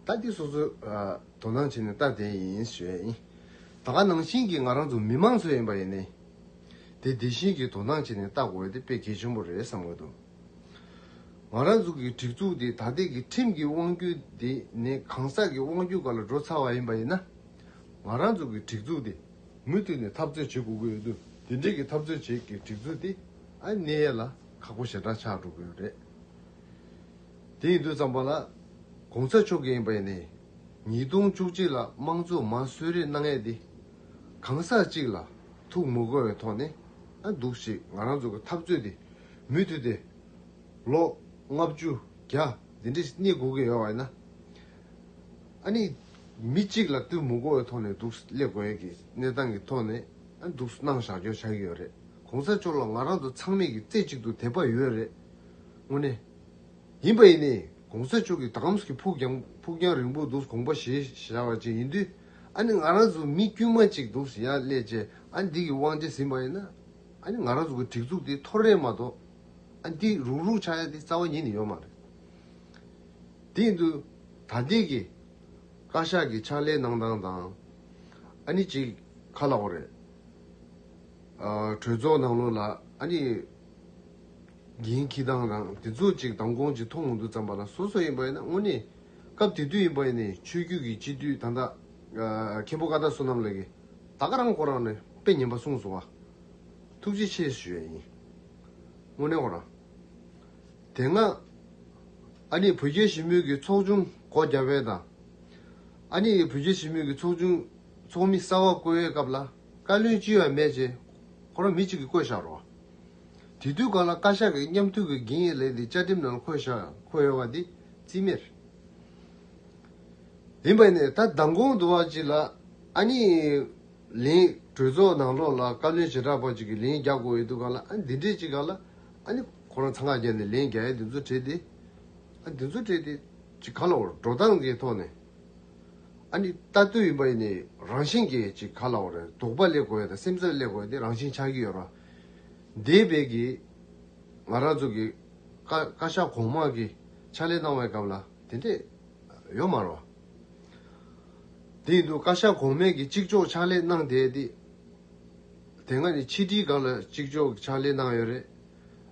ལྟ་དེ་སོ་སོ་དོ་སྣང་བྱེད་ནས་ལྟ་དེ་ཡིན་ཞེས། ད་ག་ནང་བཞིན་གྱི་ང་རང་ཚོ་མི་མང་ཚོ་ཡིན་པ་ཡིན་ནའི། དེ་དེ་བཞིན་གྱི་དོ་སྣང་བྱེད་ནས་ལྟ་དགོས་དེ་དཔེ་གལ་ཆེན་པོ་རེད་བསམ་གི་འདུག་ང་རང་ཚོ་གི་སྒྲིག་འཛུགས་དེ་ད་ལྟའི་གི་ཁྲིམས་ཀྱི་དབང་བརྒྱུད་དེ་ནས་གང་ཟག་གི་དབང་བརྒྱུད་ག་ལ་འགྲོ་ཚར་བ་ཡིན་པ་ཡིན་ན། ང་རང་ཚོ་གི་སྒྲིག་འཛུགས་དེ་མུ་མཐུད་ནས་འཐབ་རྩོད་བྱེད་དགོས་ཀྱི་ཡོད་དུས་འདི་འདྲིས་ཀྱི་འཐབ་རྩོད་བྱེད་ཀྱི་སྒྲིག་འཛུགས་དེ་ཨ་ནེ་ཡེ་ལ་ཁག་པོ་ཞེ་དྲག་ཆགས་འགྲོ་གི་ཡོད་རེད། དེ་ཡིན་དུས་ཙམ་པ་ལ་གོང་ས་མཆོག་གིས་ཨིན་པ་ཡེ་ནས་ཉིས་སྟོང་བཅུ་གཅིག་ལ་དམངས་གཙོ་མ་གསོད་རེས་གནང་ཡས་དེ་གང་ཟག་གཅིག་ལ་ཐུགས་མི་དགོས་བའི་ཐོག་ནས་ཨ་འདུག་ཞེས་ང་རང་ཚོ་གི་འཐབ་རྩོད་དེ་མུ་མཐུད་དེ་ལོ་ལྔ་བཅུ་བརྒྱ་འདི་འདྲིས་གནས་དགོས་ཀྱི་ཡོད་བ་ཡིན་ན། ཨ་ནི། མི་གཅིག་ལ་གཏུལ་མུག་གོ་བའི་ཐོག་ནས་འདུག་སླེབས་དགོས་ཡས་ཀྱི་གནས་སྟངས་ཀྱི་ཐོག་ནས་ཨ་འདུག་གནང་བཞག་འཇོག་བྱ་གི་ཡོད་རེད་གོང་ས་མཆོག་ལ་ང་རང་ཚོ་ཚང་མས་ཀྱི་རྩེ་གཅིག་ཏུ་དད་པ་ཡོད་རེད་དངོས་གནས། ཡིན་པ་ཡིན་ནའི་གོང་ས་མཆོག་གི་དགའ་མཚོ་གི་ཕུགས་ཀྱང་ཕུགས་རྒྱང་རིང་པོ་འདུག་གོང་པ་ཞེས་བྱ་བ་ཅིག་ཡིན་དུས་ཨ་ནི་ང་རང་ཚོ་མི་དཀྱུས་མ་གཅིག་འདུག་ཡ་སླེ་ཅེས་ཨ་འདི་གི་དབང་ཆ་ཟིན་པ་ཡིན་ན་ཨ་ནི་ང་རང་ཚོ་གི་སྒྲིག་འཛུགས་དེ་འཐོར་རེད་མ་གཏོགས་ཨ་འདི་རུག་རུག་ཆག་ཡ་འདི་རྩ་བ་ཉིད་ནས་ཡོད་མ་རེད། སྟེང་དུ་ད་ལྟའི་གི་བཀའ་ཤག་གི་ཕྱག་ལས་གནང་སྟངས་དང། ཨ་ནི་ཅིག་ཁ་ལག་བོ་རེད། གྲོས་ཚོགས་ནང་ལོགས་ལ་ཨ་ནི་འགན་འཁྱི་སྟངས་དང་དེ་ཚོ་ཅིག་དམ་དགོང་ཅིག་མཐོང་མུ་འདུག་བརྩམས་པ་ལ་སོ་སོ་ཡིན་པ་ཡིན་ན་དངོས་གནས་སྐབས་དེ་དུས་ཡིན་པ་ཡིན་ནའི་ཆོས་རྒྱུད་ཀྱི་སྤྱི་འཐུས་ད་ད་མཁན་པོ་ཀ་ད་བསོད་ནམས་ལགས་ཀྱི་ད་ག་རང་གོ་རང་ནས་དཔེ་ཉན་པ་གསུངས་སོང་བ་ཐུགས་རྗེ་ཆེ་ཞུ་ཡ་ཡིན་དངོས་གནས་ཁོ་རང་དེ་སྔ། ཨ་ནེ་བུ་རྒྱལ་ཞི་མོལ་གྱི་ཚོགས་ཆུང་སྒོ་རྒྱ་བལ་དང། ཨ་ནེ་ཡི་བུ་རྒྱལ་ཞི་མོལ་གྱི་ཚོགས་ཆུང་ཚོགས་མི་གསར་བ་བསྐོ་བའི་སྐབས་ལ་བཀའ་བློན་ཅི་ཡང་མེད་ཅེས་ཁོ་རང་མི་གཅིག་གིས་བསྐོས་བཞག་རོགས། དེ་དུས་གང་ལ་བཀའ་ཤག་གིས་མཉམ་འཐུས་ཀྱི་འགན་ཡོད་ལས་འདི་བཅའ་ཁྲིམས་ནང་འཁོད་བཞག་འཁོད་ཡོད་པ་འདི་རྩིས་མེད་ཡིན་པ་ནས་ད་མདང་དགོང་དུ་བ་གཅིག་ལ་ཨ་ནེ་ཡི་ལན། གྲོས་ཚོགས་ནང་ལོགས་ལ་བཀའ་བློན་བྱེ་བྲག་པ་གཅིག་གིས་ལན་རྒྱག་དགོས་ཡོད་དུས་གང་ལ་ཨ་ནེ་འདི་འདྲས་ཅིག་གང་ལ་ཨ་ནེ། ཁོ་རང་ཚང་ཁ་རྒྱག་ནས་ལན་བརྒྱ་ཡས་འདི་ཚོ་བྲིས་ཏེ། ཨ་འདི་ཚོ་བྲིས་ཏེ། ཅིག་ག་ལ་བར་འགྲོ་སྟངས་ཀྱི་ཐོག་ནས། ཨ་ནི་ལྟ་འདོད་ཡིན་པ་ཡིན་ནི་རང་བཞིན་གྱི་ཅིག་ག་ལ་བར་དོགས་པ་སླེབས་དགོས་དང་སེམས་ཚབ་སླེབས་དགོས་ཏེ་རང་བཞིན་ཆགས་ཀྱི་ཡོད་ར། འདས་པའི་གི། ང་རང་ཚོ་གི། བཀའ་ཤག་གོང་མ་གི། ཕྱག་ལས་གནང་བའི་སྐབས་ལ་དེ་འདྲས། ཡོད་མ་ར། དེ་ཡིན་དུ་བཀའ་ཤག་གོང་མས་གི་གཅིག་ལྕོགས་ཕྱག་ལས་གནང་དེ་དེ། དེ་སྔ་ནི་ཕྱི་དྲིལ་སྒང་ལ་གཅིག་ལྕོགས་གི་ཕྱག་ལས་གནང་ཡོད་རེད།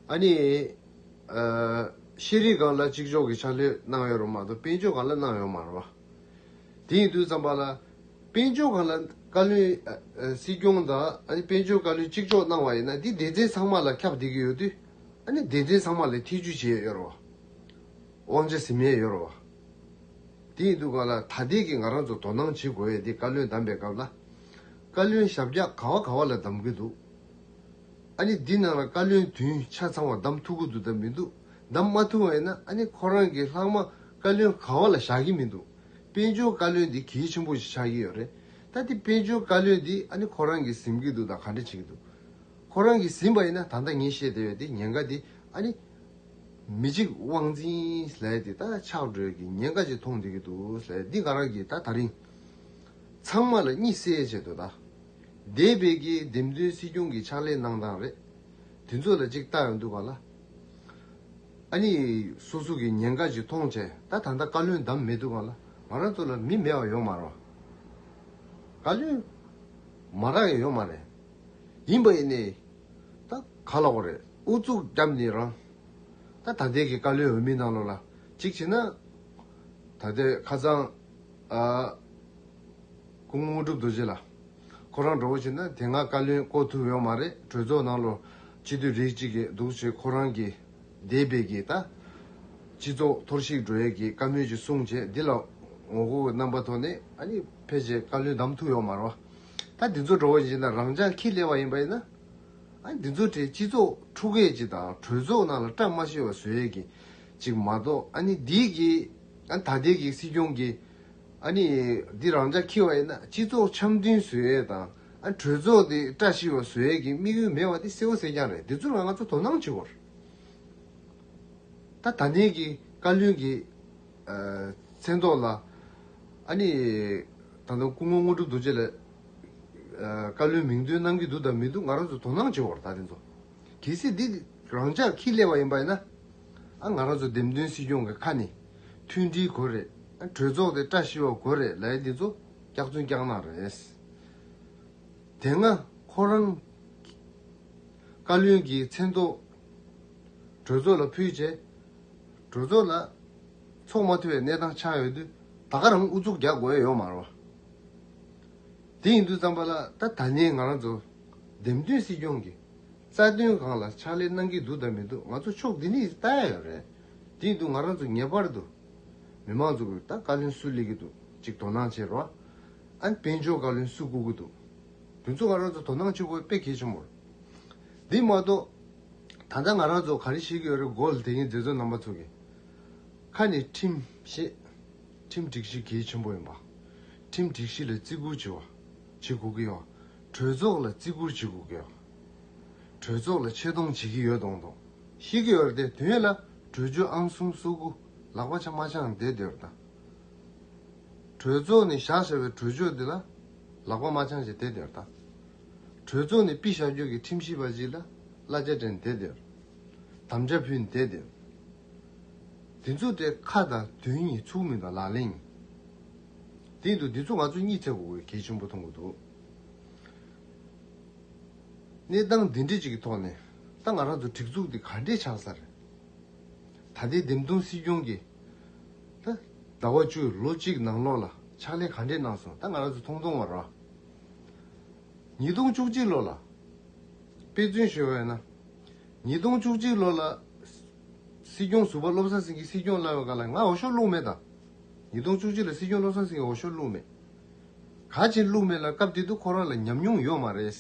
ཨ་ནི། ཤེས་རིག་སྒང་ལ་གཅིག་ལྕོགས་ཀྱི་ཕྱག་ལས་གནང་ཡོད་རུང་མ་གཏོགས་དཔལ་འབྱོར་སྒང་ལ་གནང་ཡོད་མ་རུང། དེ་ཡིན་དུས་བརྩམས་པ་ལ། དཔལ་འབྱོར་སྒང་ལ་བཀའ་བློན། སྲིད་སྐྱོང་དང་ཨ་ནི་དཔལ་འབྱོར་བཀའ་བློན་གཅིག་ལྕོགས་གནང་བ་ཡིན་ན་དེ་སྡེ་ཚན་ཚང་མ་ལ་ཁྱབ་བསྡད་ཀྱི་ཡོད་དུས། ཨ་ནི་སྡེ་ཚན་ཚང་མ་ལ་ཐེ་ཇུས་བྱས་ཡོད་རུང། དབང་ཆ་ཟིན་མེད་ཡོད་རུང། དེ་ཡིན་དུས་སྒང་ལ་ཐ་དད་ཀྱི་ང་རང་ཚོ་དོ་སྣང་བྱེད་དགོས་ཡོད་དེ་བཀའ་བློན་བདམས་པའི་སྐབས་ལ། བཀའ་བློན་ཞབས་བཀྱག་ག་བ་ག་བ་ལ་བདམས་ཀྱི་འདུག་ཨ་ནི་འདི་ནང་ལ་བཀའ་བློན་བདུན་ཆ་ཚང་བ་གདམ་ཐུབ་གི་འདུག་གདམ་མི་འདུག་གདམ་མ་ཐུབ་བས་ན་ཨ་ནི་ཁོ་རང་གི་ལྷག་མ་བཀའ་བློན་གང་བ་ལ་བཞག་གི་མི་འདུག་དཔལ་འབྱོར་བཀའ་བློན་འདི་གལ་ཆེན་པོ་ཞིག་ཆགས་ཀྱི་ཡོད་རེད་ད་དེ་དཔལ་འབྱོར་བཀའ་བློན་འདི་ཨ་ནི་ཁོ་རང་གིས་ཟིན་གི་འདུག་དང་ག་འདྲ་བྱེད་ཀྱི་འདུག་ཁོ་རང་གིས་ཟིན་པ་ཡིན་ན་ད་ལྟ་ངས་བཤད་བསྡད་པའི་དེ་ཉེན་ཁ་དེ་ཨ་ནི། མི་གཅིག་དབང་འཛིན་ལས་དེ་ད་ཆགས་འགྲོས་ཀྱི་ཉེན་ཁ་ཅིག་མཐོང་བསྡད་ཀྱི་འདུག་འདི་ག་རང་གིས་ད་ད་རིང་ཚང་མ་ལ་གཉིད་སད་བྱེད་དོ་ད། འདས་པའི་དགེ་འདེམས་དོན་སྲིད་སྐྱོང་གི་ཕྱག་ལས་གནང་སྟངས་རེད། དེ་ཚོ་ལ་ཅིག་བལྟ་ཡང་འདུག་བ་ལ། ཨ་ནི་སོ་སོ་གི་ཉེན་ཁ་ཞིག་མཐོང་བྱས། ད་ད་ལྟ་བཀའ་བློན་བདམས་མེད་འདུག་བ་ལ་ང་རང་ཚོ་ལ་མི་མེད་བ་ཡོང་མ་རང། བཀའ་བློན། མ་རང་ཡང་ཡོང་མ་རེད། ཡིན་པ་ཡིན་ནའི། ད་ག་ལ་བ་རེད་ཨུ་ཚུགས་རྒྱབ་ནི་རང། ད་ད་ལྟའི་གི་བཀའ་བློན་འོས་མི་གནང་ལོ་ལ་ཅིག་བྱས་ན། ད་ལྟའི་ཁ་ཚང། སྐུ་ངོ་དཀྲུག་རྡོ་རྗེ་ལ། ཁོ་རང་འགྲོ་བོ་བྱེད་ན་དེ་སྔ་བཀའ་བློན་བསྐོ་ཐུབ་ཡོང་མ་རེད་གྲོས་ཚོགས་ནང་ལོ་གཅིག་དུས་རིགས་གཅིག་གི་འདུག་བྱེད་ཁོ་རང་གི་འདས་དཔེ་གི་ད། སྤྱི་ཚོགས་འཐོར་ཞིག་འགྲོ་ཡས་གི་བཀའ་མོལ་གྱི་གསུང་བྱེད་འདི་ལ་ངོ་རྒོལ་གི་རྣམ་པ་ཐོག་ནས་ཨ་ནི་ཕལ་ཆེར་བཀའ་བློན་བདམས་ཐུབ་ཡོང་མ་རོ། ད་འདི་ཚོ་འགྲོ་བོ་བྱེད་ན་རང་ཅག་ཁྱི་ལས་བ་ཡིན་པ་ཡིན་ན། ཨ་འདི་ཚོ་དེ་སྤྱི་ཚོགས་འཁྲུག་ཡས་གི་དང་གྲོས་ཚོགས་ནང་ལ་བཀྲ་མ་ཤིས་བ་བཟོ་ཡས་གི་ཅིག་མ་གཏོགས་ཨ་ནི་འདི་གི་ཨ་ད་ལྟའི་གི་སྲིད་སྐྱོང་གི། ཨ་ནི། འདི་རང་ཅག་ཁྱི་བ་ཡིན་ན་སྤྱི་ཚོགས་འཆམ་མཐུན་བཟོས་ཡས་དང་ཨ་ནི་གྲོས་ཚོགས་འདི་བཀྲ་ཤིས་བ་བཟོས་ཡས་ཀྱི་དམིགས་ཡུལ་མེད་བ་འདི་གསལ་བོ་གསལ་རྐྱང་རེད་འདི་ཚོ་ལ་ང་ཚོ་དོ་སྣང་བྱེད་དགོས་རེད་ད་ད་ནས་ཀྱི་བཀའ་བློན་གྱི་མཚན་ཐོག་ལ་ཨ་ནི། ད་དུང་སྐུ་ངོ་དངོས་གྲུབ་རྡོ་རྗེ་ལ་བཀའ་བློན་མིང་འདོན་གནང་གི་འདུག་དང་མི་འདུག་ང་རང་ཚོ་དོ་སྣང་བྱེད་དགོས་རེད་ད་དེ་ཚོ་གལ་སྲིད་འདི་རང་ཅག་ཁྱི་ལས་བ་ཡིན་པ་ཡིན་ན་ཨ་ང་རང་ཚོ་འདེམས་ཐོན་སྲིད་སྐྱོང་གི་ཁ་ནས། མཐུན་སྒྲིལ་དགོས་རེད། གྲོས་ཚོགས་དེ་བཀྲ་ཤིས་པ་དགོས་རེད་ལའི་འདི་ཚོ་སྐྱག་རྫུན་སྐྱག་ནག་རེད། དེ་སྔ་ཁོ་རང་བཀའ་བློན་གྱི་མཚན་ཐོག་གྲོས་ཚོགས་ལ་ཕུལ་རྗེས། གྲོས་ཚོགས་ལ་ཚོགས་མ་ཐུབ་པའི་གནས་སྟངས་ཆགས་ཡོད་དུས་ད་ག་རང་ཨུ་ཚུགས་རྒྱག་དགོས་ཡོད་མ་རོ། དེ་ཡིན་དུས་བརྩམས་པ་ལ་ད་ད་ནི་ང་རང་ཚོ་འདེམས་ཐོན་སྲིད་སྐྱོང་གི་རྩ་དོན་གང་ལ་ཕྱག་ལས་གནང་གི་འདུག་ད་མི་འདུག་ང་ཚོ་ཕྱོགས་འདི་འདི་ལྟ་ཡག་ཡོད་རེད། དེའི་འདུག་ང་རང་ཚོ་ངེས་པར་དུ་མི་མང་ཚོ་གིས་ད་བཀའ་བློན་སུ་ལས་གི་འདུག་ཅིག་དོ་སྣང་བྱེད་རོགས་ཨ། དཔལ་འབྱོར་བཀའ་བློན་སུ་བསྐོ་གི་འདུག་དེ་ཚོ་ང་རང་ཚོ་དོ་སྣང་བྱེད་དགོས་དཔེ་གལ་ཆེན་པོ་རེད། དེ་མ་གཏོགས་ད་ལྟ་ང་རང་ཚོ་ག་རེ་བྱེད་ཀྱི་ཡོད་རེད་དགོས་ལ་དེ་གཉིས་མཛད་གཙོ་རྣམ་པ་ཚོ་གི་ཁ་ནས་ཁྲིམས་བཤད། ཁྲིམས་སྒྲིག་གཞི་གལ་ཆེན་པོ་ཡིན་པ། ཁྲིམས་སྒྲིག་གཞི་ལ་བརྩི་བཀུར་བྱེད་དགོས་ཀྱི་ཡོད། གྲོས་ཚོགས་ལ་བརྩི་བཀུར་བྱེད་དགོས་ཀྱི་ཡོད། གྲོས་ཚོགས་ལ་ཆེ་མཐོང་བྱེད་ཀྱི་ཡོད་མཐོང་མཐོང་ཤིག་གི་ཡོད་དེ་དོན་ལ་གྲོས་ཆོད་ཨང་གསུམ་སོ་དགུ་ལག་པ་ཆ་མ་འཆང་དེ་དེར་བལྟ། གྲོས་ཚོགས་ནས་བཞག་བཞག་པའི་གྲོས་ཆོད་དེ་ལ་ལག་པ་མ་འཆང་ཞིག་དེ་དེར་བལྟ། གྲོས་ཚོགས་ནས་པི་ཞག་རྒྱོགས་ཀྱི་ཁྲིམས་ཞིབ་པ་ཞིག་ལ་གླ་རྒྱ་དྲན་དེ་དེར་དམ་བཅའ་ཕུལ་དེ་དེར་བལྟ། དེ་ཚོ་དེ་ཁ་དང་དོན་གཉིས་ཚུགས་མིན་དང་ལག་ལེན་གཉིས། དེ་ཡིན་དུ་འདི་ཚོ་ང་ཚོ་གཉིད་ཐེག་གོ་གོའི་གལ་ཆེན་པོ་མཐོང་གི་འདུག། གནས་སྟངས་འདི་འདྲ་ཅིག་གི་ཐོག་ནས་ད་ང་རང་ཚོ་སྒྲིག་འཛུགས་འདི་ག་འདྲས་ཆགས་ས་རེད། ད་ལྟའི་འདེམས་ཐོན་སྲིད་སྐྱོང་གིས་ད་ཟླ་བ་བཅུ་ལོ་གཅིག་ནང་ལོགས་ལ་ཕྱག་ལས་ག་འདྲས་གནང་སོང་ད་ང་རང་ཚོ་མཐོང་མཐོང་བར་རོ། ཉིས་སྟོང་བཅུ་གཅིག་ལོ་ལ་དཔེ་མཚོན་བཞེས་བ་ཡིན་ན། ཉིས་སྟོང་བཅུ་གཅིག་ལོ་ལ་སྲིད་སྐྱོང་ཟུར་པ་བློ་བཟང་སེང་གེ་སྲིད་སྐྱོང་གླ་བའི་སྐབས་ལ་ང་འོ་ཞོ་བླུགས་མེད་དང། ཉིས་སྟོང་བཅུ་གཅིག་ལ་སྲིད་སྐྱོང་བློ་བཟང་སེང་གེ་འོ་ཞོ་བླུགས་མེད། ག་བྱེད་ལུགས་མེད་ལ་སྐབས་དེ་དུས་ཁོ་རང་ལ་ཉམས་མྱོང་ཡོད་མ་རེད།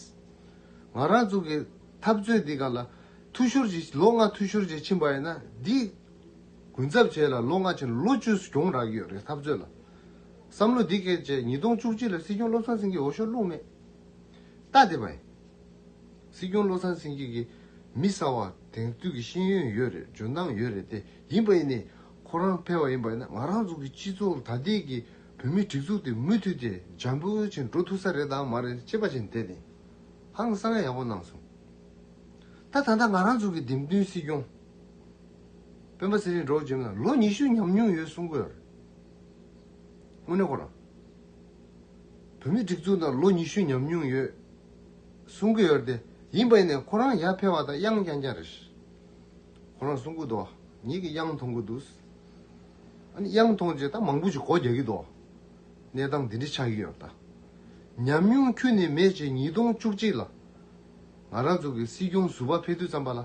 ང་རང་ཚོ་གི་འཐབ་རྩོད་འདི་ག་ལ་འཐུས་ཤོར་གྱིས་ལོ་ལྔ་འཐུས་ཤོར་གྱིས་ཕྱིན་པ་ཡིན་ན་འདིས་གུན་གསབ་བྱས་ལ་ལོ་ལྔ་ཕྱིན་ལོ་བཅུ་གྱོང་རག་ཡོད་རེད་འཐབ་རྩོད་ལ། བསམ་བློ་འདི་སྐད་བྱས་ཉིས་སྟོང་བཅུ་གཅིག་ལ་སྲིད་སྐྱོང་བློ་བཟང་སེང་གེ་འོ་ཤོར་ལུགས་མེད། རྟ་དེ་བས། སྲིད་སྐྱོང་བློ་བཟང་སེང་གེ་གི་མི་གསར་བ་དེང་དུས་ཀྱི་ཤེས་ཡོན་ཡོད་རེད་འཇོན་ཐང་ཡོད་རེད་དེ་ཡིན་པ་ཡིན་ནས་ཁོ་རང་ཕལ་བ་ཡིན་པ་ཡིན་ན་ང་རང་ཚོ་གི་སྤྱི་ཚོགས་ལ་ད་ལྟའི་གི་བོད་མིའི་སྒྲིག་འཛུགས་དེ་མུ་མཐུད་དེ་འཇམ་པོ་ཆེ་འགྲོ་ཐུབ་ས་རེད་དམ་མ་རེད་ཅེས་པ་བཅས་འདས་ཏེ་ཧང་སང་ཡག་པོ་གནང་སོང། ད་ད་ལྟ་ང་རང་ཚོ་གི་འདེམས་བསྟུན་སྲིད་སྐྱོང་སྤེན་པ་ཚེ་རིང་འབྲོག་འཇིམ་ལ་ལོ་ཉི་ཤུ་ཉམས་མྱོང་ཡོད་གསུང་གི་རེད། དངོས་གནས་ཁོ་རང་བོད་མིའི་སྒྲིག་འཛུགས་ནང་ལོ་ཉི་ཤུ་ཉམས་མྱོང་ཡོད་གསུང་གི་ཡོད་དེ་ཡིན་པ་ཡིན་ནའི་ཁོ་རང་ཡར་འཕེལ་བ་དང་དབྱངས་རྐྱང་རྐྱང་རེད། ཁོ་རང་གསུང་གི་འདུག་ཉིད་ཀྱི་དབྱངས་མཐོང་གི་འདུག། དབྱང་མཐོང་རྗེས་ད་མང་པོ་ཞིག་སྒོ་རྒྱག་གི་འདུག་གནས་སྟངས་འདི་འདྲའི་ཆགས་ཀྱི་ཡོད་ད། ཉམས་མྱོང་ཁྱོན་ནས་མེད་ཅེས་ཉིས་སྟོང་བཅུ་གཅིག་ལ་ང་རང་ཚོ་གི་སྲིད་སྐྱོང་ཟུར་པ་ཕེབས་དུས་བརྩམས་པ་ལ།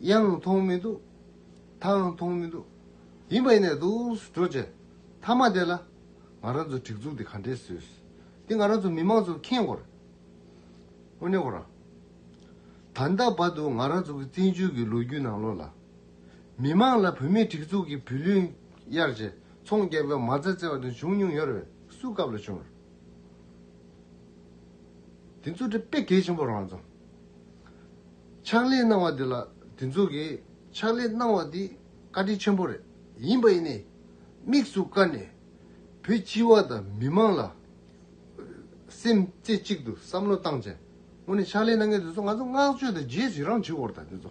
དབྱང་མཐོང་མི་འདུག་དྭངས་མཐོང་མི་འདུག་ཡིན་པ་ཡིན་ནས་འདུག་འགྲོ་བཅས་མཐའ་མ་དེ་ལ་ང་རང་ཚོ་སྒྲིག་འཛུགས་དེ་ག་འདྲས་བཟོས་ཏེ་ང་རང་ཚོ་མི་མང་ཚོ་ཁེངས་སྐོར་དངོས་གནས་གོ་རང། ད་ལྟ་བར་དུ་ང་རང་ཚོ་གི་བཙན་བྱོལ་གྱི་ལོ་རྒྱུས་ནང་ལོགས་ལ། མི་མང་ལ་བུད་མེད་སྒྲིག་འཛུགས་ཀྱི་བུ་ལོན་གཡར་རྗེས་ཚོང་རྒྱག་སྐབས་མ་རྩ་བཙལ་བ་དང་བྱུང་མྱོང་ཡོད་རེད་སུའི་སྐབས་ལ་བྱུང། དེ་ཚོ་དེ་དཔེ་གལ་ཆེན་པོ་རང་བཙོང། ཕྱག་ལས་གནང་བ་དེ་ལ་དེ་ཚོ་གིས་ཕྱག་ལས་གནང་བ་དེ་བཀའ་དྲིན་ཆེན་པོ་རེད་ཡིན་པ་ཡིན་ནས་དམིགས་སུ་བཀར་ནས་བོད་སྤྱི་བ་དང་མི་མང་ལ་སེམས་རྩེ་གཅིག་ཏུ་བསམ་བློ་བཏང་རྗེས་སྔོན་ནས་ཕྱག་ལས་གནང་མཁན་དེ་ཚོ་ང་ཚོ་བསྔགས་བརྗོད་དང་རྗེས་སུ་ཡི་རང་བྱེད་དགོས་རེད་ད་དེ་ཚོ་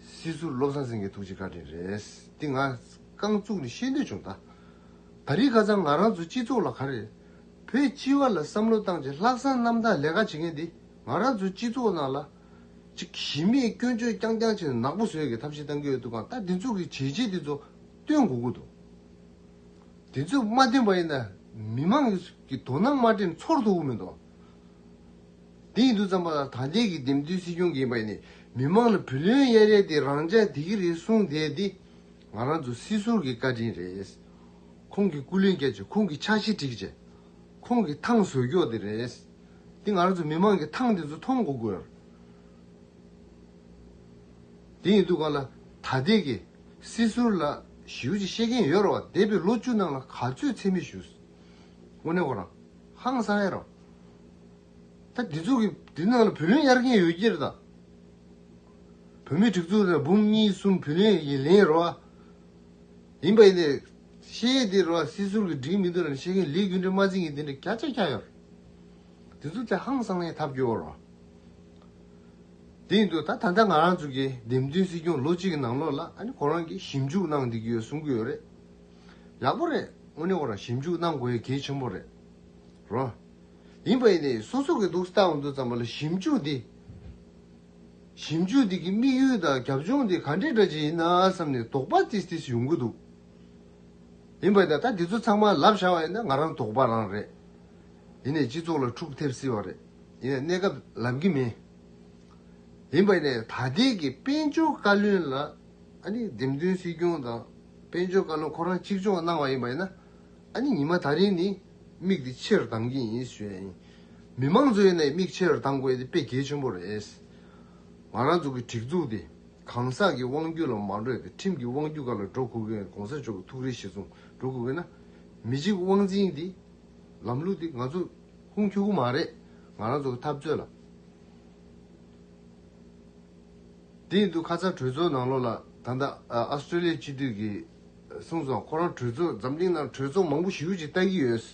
སྲིད་ཟུར་བློ་བཟང་སེང་གེ་ཐུགས་རྗེ་བཀའ་དྲིན་རེད་འདི་ང་རྐང་བཙུགས་ནས་ཤེས་འདོད་བྱུང་ད་ད་རིས་ཁ་ཚང་ང་རང་ཚོ་སྤྱི་ཚོགས་ལ་ག་རེ་བོད་སྤྱི་བ་ལ་བསམ་བློ་བཏང་རྗེས་ལྷག་བསམ་རྣམ་དག་ལས་ཀ་བྱེད་མཁན་འདི་ང་རང་ཚོ་སྤྱི་ཚོགས་ནང་ལ་ཅིག་གཞི་མེད་སྐྱོན་བརྗོད་རྐྱང་རྐྱང་བྱེད་ནག་པོ་བཟོས་གི་ཐབས་ཤེས་བཏང་གི་ཡོད་འདུག་གང་ལྟར་འདི་ཚོ་གི་བྱས་རྗེས་འདི་ཚོ་སྟོན་དགོས་ཀུ་འདུག་འདི་ཚོས་མ་བསྟེན་པ་ཡིན་ན་མི་མང་གི་དོ་སྣང་མ་སྤྲིན་ཚོར་ཐུབ་ཀུ་མེད་འདུག། དེ་ཡིན་དུ་བརྩམས་པ་ལ་ད་ལྟའི་གི་འདེམས་བསྡུའི་སྲིད་སྐྱོང་གིས་པ་ནི་མི་དམངས་ལ་བུ་ལོན་གཡར་ཡས་དེ་རང་ཅག་དེ་གི་རེད་གསུངས་བསྡད་དེ། ང་རང་ཚོ་སྲིད་ཟུར་གི་བཀའ་དྲིན་རེད། ཁོང་གི་སྐུ་ལུན་བསྐྱལ་བྱས་ཁོང་གི་ཕྱག་བཞེས་འགྲིག་བྱས། ཁོང་གི་ཐང་བཟོས་མགྱོགས་དེ་རེད། དེ་ང་རང་ཚོ་མི་དམངས་གི་ཐང་དེ་ཚོ་མཐོང་གོ་དགོས། དེ་ཡིན་དུ་ག་ལ་ད་ལྟའི་གི་སྲིད་ཟུར་ལ་ཞིའུ་ཅི་ཤེས་མཁན་ཡོད་ར་བ་འདས་པའི་ལོ་བཅུ་ནང་ལ་ག་ཚོད་འཚེ་མེད་ཞུས། དངོས་གནས་ཁོ་རང། ཧང་སང་ཡེ་རོ། ད་འདི་ཚོ་གི་འདི་ནང་ལ་བུ་ལོན་གཡར་གིན་ཡོད་ཀྱིར་དང། བུ་མེད་དྲུག་ཚོ་ལ་འབུམ་གཉིས་གསུམ་བུ་ལོན་ཡིན་ལེན་རོ། ཡིན་པ་ཡིན་ཏེ། ཤེས་ཡས་དེ་རོ་སྲིད་ཟུར་གི་སྒྲིག་མི་འདུག་ལ་ཤེས་མཁན་ལས་རྒྱུ་འབྲས་མ་འཛིན་གིན་དེ་འདྲ་གྱ་ཆ་གྱ་ཡོར། འདི་ཚོ་ད་ཧང་སང་ཡེ་ཐབས་སྐྱོ་རོ། དེ་ཡིན་དུ་ད་ད་ལྟ་ང་རང་ཚོ་གི་འདེམས་ཐོན་སྲིད་སྐྱོང་ལོ་གཅིག་གི་ནང་ལོགས་ལ་ཨ་ནི་ཁོ་རང་གིས་ཞིབ་འཇུག་གནང་བསྡད་ཀྱི་ཡོད་གསུང་གི་ཡོད་རེད། ཡག་པོ་རེད་དངོས་གནས་བོར་ཞིབ་འཇུག་གནང་དགོས་གལ་ཆེན་པོ་རེད་རོ། ཡིན་པ་ཡིན་ནའི་སོ་སོ་གི་སྡུག་ས་ལྟ་བ་འདུག་ཙམ་པ་ལ་ཞིབ་འཇུག་འདི། ཞིབ་འཇུག་འདི་གི་དམིགས་ཡུལ་དང་རྒྱབ་ལྗོངས་འདི་ག་འདྲའི་སྒྲ་ཅན་ཡིན་ན་བསམ་ནས་དོགས་པ་ཏིས་ཏིས་ཡོང་གི་འདུག། ཡིན་པ་ཡིན་ན་ད་འདི་ཚོ་ཚང་མ་ལབ་བཞག་པ་ཡིན་ན་ང་རང་དོགས་པ་རང་རེད། ཡིན་ནའི་སྤྱི་ཚོགས་ལ་འཁྲུག་ཐེབས་སྲིད་པ་རེད་ཡིན་ནའི་གནས་སྐབས་ལབ་གི་མིན། ཡིན་པ་ཡིན་ནའི་ད་ལྟའི་གི་དཔལ་འབྱོར་བཀའ་བློན་ལ། ཨ་ནི་འདེམས་མཐུན་སྲིད་སྐྱོང་དང་དཔལ་འབྱོར་བཀའ་བློན་ཁོ་རང་གཅིག་ལྕོགས་གནང་བ་ཡིན་པ་ཡིན་ན། ཨ་ནི་ཉི་མ་ད་རིང་ནི་མིག་དེ་ཕྱིར་གདང་གི་ཡིན་ཞུས་ཡ་ཡིན། མི་མང་གཙོའི་ནས་མིག་ཕྱིར་གདང་དགོས་དེ་དཔེ་གལ་ཆེན་པོ་རེད། ང་རང་ཚོ་གི་སྒྲིག་འཛུགས་དེ་གང་ཟག་གི་དབང་རྒྱུད་ལ་མ་འགྲོས་ཏེ་ཁྲིམས་ཀྱི་དབང་རྒྱུད་ག་ལ་འགྲོ་དགོས་མཁན་གོང་ས་མཆོག་གི་ཐུགས་རེ་གཞི་བཟུང་འགྲོ་དགོས་མཁན་ན། མི་གཅིག་དབང་འཛིན་དེ་ལམ་ལུགས་དེ་ང་ཚོ་ཧུང་ཁྱོ་གུ་མ་རེད་ང་རང་ཚོ་གི་འཐབ་རྩོད་ལ། དེ་འདུག་ཁ་ཚ་གྲོས་ཚོགས་ནང་ལོགས་ལ་ད་ལྟ Australia སྤྱི་འཐུས་ཀྱི་གསུངས་སོང་ཁོ་རང་གྲོས་ཚོགས་འཛམ་གླིང་ནང་གྲོས་ཚོགས་མང་པོ་ཞུ་ཅིག་ལྟ་གི་ཡོད།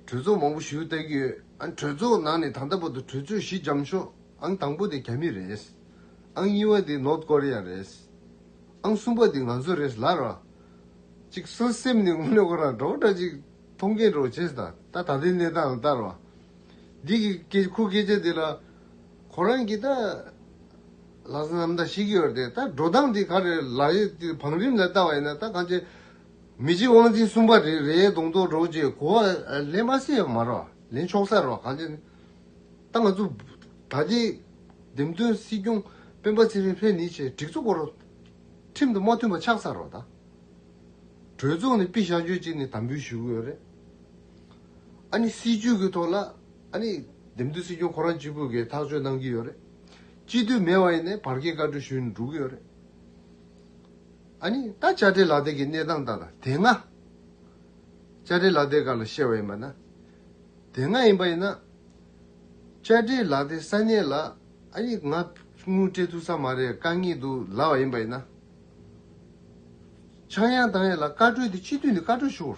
གྲོས་ཚོགས་མང་པོ་ཞུ་ལྟ་གི་ཡོད་ཨང་གྲོས་ཚོགས་ནང་ནས་ད་ལྟ་བར་དུ་གྲོས་ཚོགས་བཞི་འཇམ་ཤོག་ཨང་དང་པོ་དེ་རྒྱ་མི་རེད་ཨང་གཉིས་པ་དེ North Korea རེད་ཨང་གསུམ་པ་དེ་ང་ཚོ་རེད་ལར་བ། ཅིག་གསོལ་སེམས་ནི་དངོས་གནས་ཁོ་རང་གྲོགས་འདྲ་ཅིག་མཐོང་མཁན་གྲོགས་བྱས་ཟ་ད་ད་ལྟའི་གནས་སྟངས་ལྟར་བ། འདི་གི་སྐད་ཁོའི་སྐད་ཆ་དེ་ལ། ཁོ་རང་གིས་ད། ལགས་སོ་ནམ་ཟླ་བཞི་གི་འོད་དེ་ད་འགྲོ་སྟངས་འདི་ག་རེད་ལགས་ཡས་དེ་བང་རིམ་ལ་བལྟ་བ་ཡིན་ན་ད་གང་ཆེ། མི་གཅིག་དབང་འཛིན་གསུམ་པ་རེད་རེད་གདོང་གཏོགས་འགྲོ་ཅེས་གོ་བ་ལེན་མ་སྲིད་ཡང་མ་རོགས་ལེན་ཆོག་ས་རོགས་གང་ཆེ། ད་ང་ཚོ། ད་ལྟའི། འདེམས་ཐོན་སྲིད་སྐྱོང་སྤེན་པ་ཚེ་རིང་ལྷས་ནི་ཆེད་སྒྲིག་ཚོགས་སྐོར། ཁྲིམས་དང་མ་མཐུན་པ་ཆག་ས་རོགས་ད། གྲོས་ཚོགས་ནས་པི་ཞག་མཆོད་ཅིག་ནི་དམ་འབུལ་ཞུ་གི་ཡོད་རེད། ཨ་ནི་སྲིད་ཇུས་ཀྱི་ཐོག་ལ། ཨ་ནི། འདེམས་སྡོད་སྲིད་སྐྱོང་ཁོ་རང་གཅིག་པོས་གས་ཐག་གཅོད་གནང་གི་ཡོད་རེད། སྤྱི་འཐུས་མེད་བ་ཡིན་ནས་བར་བརྒལ་བཀའ་འཁྲོལ་ཞུས་ནས་འགྲོ་གི་ཡོད་རེད། ཨ་ནི། ད་བཅར་འདྲི་ལག་དེབ་ཀྱི་གནས་སྟངས་དང་དེ་སྔ། བཅར་འདྲི་ལག་དེབ་ག་ལ་བཤད་བ་ཡིན་པ་ན། དེ་སྔ་ཡིན་པ་ཡིན་ན། བཅར་འདྲི་ལག་དེབ་ས་གནས་ལ་ཨ་ཡིག་ང་དངུལ་སྤྲད་ཐུབ་ས་མ་རེད་དཀའ་ངལ་འདུག་ལབ་བ་ཡིན་པ་ཡིན་ན། ཆག་ཡང་དང་ཡང་ལ་བཀའ་འཁྲོལ་དེ་སྤྱི་འཐུས་ནས་བཀའ་འཁྲོལ་ཞུ།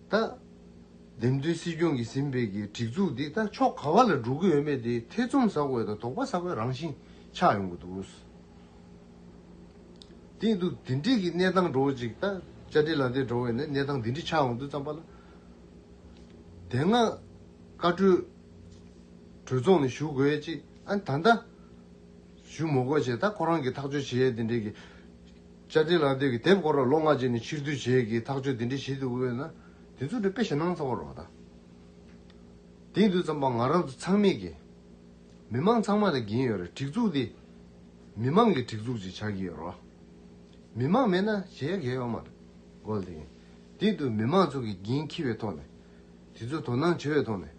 ད། འདེམས་ཐོན་སྲིད་སྐྱོང་གིས་ཟིན་འཕེལ་གྱི་སྒྲིག་འཛུགས་འདི་ད་ཕྱོགས་ག་བ་ལ་འགྲོ་གི་ཡོད་མེད་དེ་ཐེ་ཚོམ་ཟ་དགོས་དང་དོགས་པ་ཟ་དགོས་རང་བཞིན་ཆགས་ཡོང་གི་འདུག་རུང་གི་འདུག་འདི་འདྲིས་ཀྱི་གནས་སྟངས་འགྲོ་བ་ཅིག་ད་བཅའ་སྒྲིལ་ལ་འདེད་འགྲོ་བས་ན་གནས་སྟངས་འདི་འདྲིས་ཆགས་ཡོང་དུས་ཙམ་པ་ལ། དེ་སྔ་བཀའ་གྲོས་གྲོས་ཚོགས་ནས་ཞུ་དགོས་ཅིག་ཨ་ད་ད། ཞུ་མོ་དགོས་ཅིག་ད་ཁོ་རང་གིས་ཐག་གཅོད་བྱེད་ཡས་འདི་འདྲིས་ཀྱི། བཅའ་སྡོད་ལག་དེབ་ཀྱི་དེབ་སྐོར་ལ་ལོ་ལྔ་རྗེས་ནས་ཕྱིར་བསྡུ་བྱས་ཀྱིས་ཐག་གཅོད་འདི་འདྲའི་བྱེད་འདུག་དཔེར་ན། དེ་ཚོ་འདྲ་དཔེ་ཞེད་སྣང་ཚ་བོ་རོགས་དང། དེ་འདུག་ཙམ་པ་ང་རང་ཚོ་ཚང་མིག་གིས། མི་མང་ཚང་མ་དང་གྱིན་ཡོད་རེད་སྒྲིག་འཛུགས་འདི། མི་མང་གིས་སྒྲིག་འཛུགས་ཅིག་ཆགས་ཀྱི་ཡོད་རོགས། མི་མང་མེད་ན་བྱེད་ཡ་གས་ཡོད་མ་རེད། གོ་དེ་ཡིན། དེ་འདུག་མི་མང་ཚོ་གིས་གྱིན་འཁྱིལ་བའི་ཐོག་ནས། དེ་ཚོས་དོ་སྣང་བྱེད་པའི་ཐོག་ནས།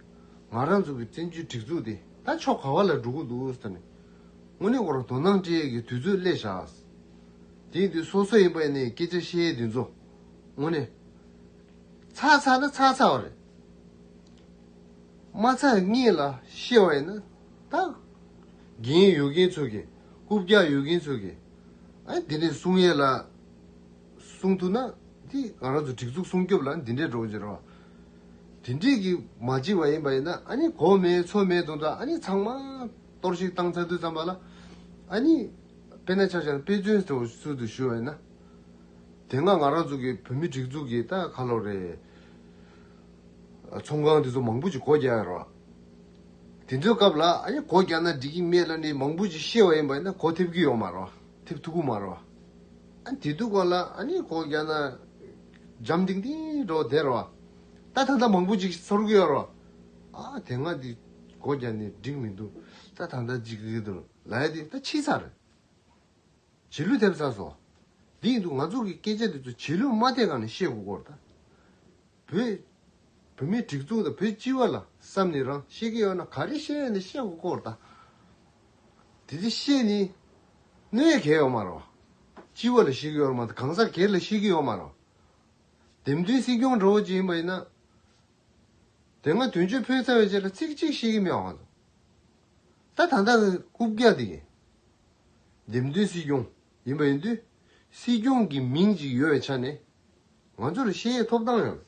ང་རང་ཚོ་གིས་བཙན་བྱོལ་སྒྲིག་འཛུགས་འདི། ད་ཕྱོགས་ག་བ་ལ་འགྲོ་གི་འདུག་ཟེར་ནས། དངོས་གནས་བར་དོ་སྣང་སྤྲེལ་གྱི་དུས་ཚོད་སླེ་བཞག། དེང་དུས་སོ་སོ་ཡིན་པ་ནས་སྐད་ཆ་བཤད་དུས་མཚོ་སྔོན་ནས། ཚགས་ཚགས་ན་ཚགས་ཚགས་བ་རེད། མ་ཚགས་སྔས་ལ་ཤེས་བ་ཡིན་ན་ཐག། རྒན་ཡོད་མཁན་ཚོ་གིས་རྐུབ་བཀྱག་ཡོད་མཁན་ཚོ་གིས། ཨ་འདི་འདྲས་གསུང་ཡས་ལ། གསུང་ཐུབ་ན་དེ་ང་རང་ཚོ་སྒྲིག་འཛུགས་སྲུང་སྐྱོབ་ལ་འདི་འདྲས་འགྲོ་གི་རེད། དེ་འདྲས་ཀྱིས་མ་བྱེད་པ་ཡིན་པ་ཡིན་ན་ཨ་ནི་གོ་མེད་ཚོ་མེད་དུ་འདྲ་ཨ་ནི་ཚང་མ། གཏོར་བཤིག་བཏང་ཚར་དུས་ཙམ་པ་ལ། ཨ་ནི། དཔེ་ན་ཆ་ཆར་དཔེ་མཚོན་དུ་སུ་དུ་ཞུ་བས་ན། དེ་སྔ་ང་རང་ཚོ་གི་བོད་མི་སྒྲིག་འཛུགས་ཀྱི་ད་ཁ་ལོ་རེད། ཚོང་ཁང་དེ་ཚོ་མང་པོ་ཅིག་སྒོ་རྒྱག་ཡོད་རོགས། དེ་ཚོའི་སྐབས་ལ་ཨ་ནི་སྒོ་རྒྱག་ན་འགྲིག་གི་མེད་ལ་ནི་མང་པོ་ཅིག་ཤེས་བ་ཡིན་པ་ཡིན་ན་སྒོ་ཐེབས་ཀྱི་ཡོད་མ་རོ། ཐེབས་ཐུབ་ཀྱི་མ་རོ། ཨ་ནི་དེ་དུས་སྐོར་ལ་ཨ་ནི་སྒོ་རྒྱག་ན། འཇམ་ཏིང་ཏིང་རོ་བསྡད་རོགས། ད་ད་ལྟ་མང་པོ་ཅིག་ཚོར་གི་ཡོད་རོགས། ཨ་དེ་སྔ་དེ་སྒོ་རྒྱག་ནས་འགྲིག་མི་འདུག་ད་ད་ལྟ་འཇིག་གི་འདུག་ལ་ཡ་དེ་ད་ཕྱི་ཚར་རེད། བྱིས་ལུས་ཐེབས་ཚར་སོ། དེ་ཡིན་དུ་ང་ཚོ་གི་སྐད་ཆ་དེ་ཚོ་བྱིས་ལུས་མ་ཐེབས་ག་ནས་བཤད་དགོས་སྐོར་དང། བོད། བོད་མིའི་སྒྲིག་འཛུགས་དང་བོད་སྤྱི་བ་ལ་བསམ་ནས་རང་བཤད་ཀི་ཡོད་ན་ག་རེ་བཤད་ཡོད་ནས་བཤད་དགོས་སྐོར་དང། དེ་དེ་བཤད་ནི། གནོད་ཡ་གས་ཡོད་མ་རེད། སྤྱི་བ་ལ་བཤད་ཀི་ཡོད་མ་རེད་གང་ཟག་སྒེར་ལ་བཤད་ཀི་ཡོད་མ་རེད། འདེམས་ཐོན་སྲིད་སྐྱོང་འདྲ་བོ་ཅིག་ཡིན་པ་ཡིན་ན། དེ་སྔ་དུས་མཆོད་ཕུལ་ཟེར་བའི་ཆེད་ལ་ཚིག་གཅིག་ཤེས་ཀྱི་མེད་པ་གང་ཟེར། ད་ད་ལྟ་རྐུབ་བཀྱག་དེ་ཡིན། འདེམས་ཐོན་སྲིད་སྐྱོང་ཡིན་པ་ཡིན་དུས་སྲིད་སྐྱོང་གི་མིང་ཅིག་ཡོད་བའི་ཆ་ནས་ང་ཚོ་ལ་ཤེས་ཡས་ཐོབ་ཐང་ཡང་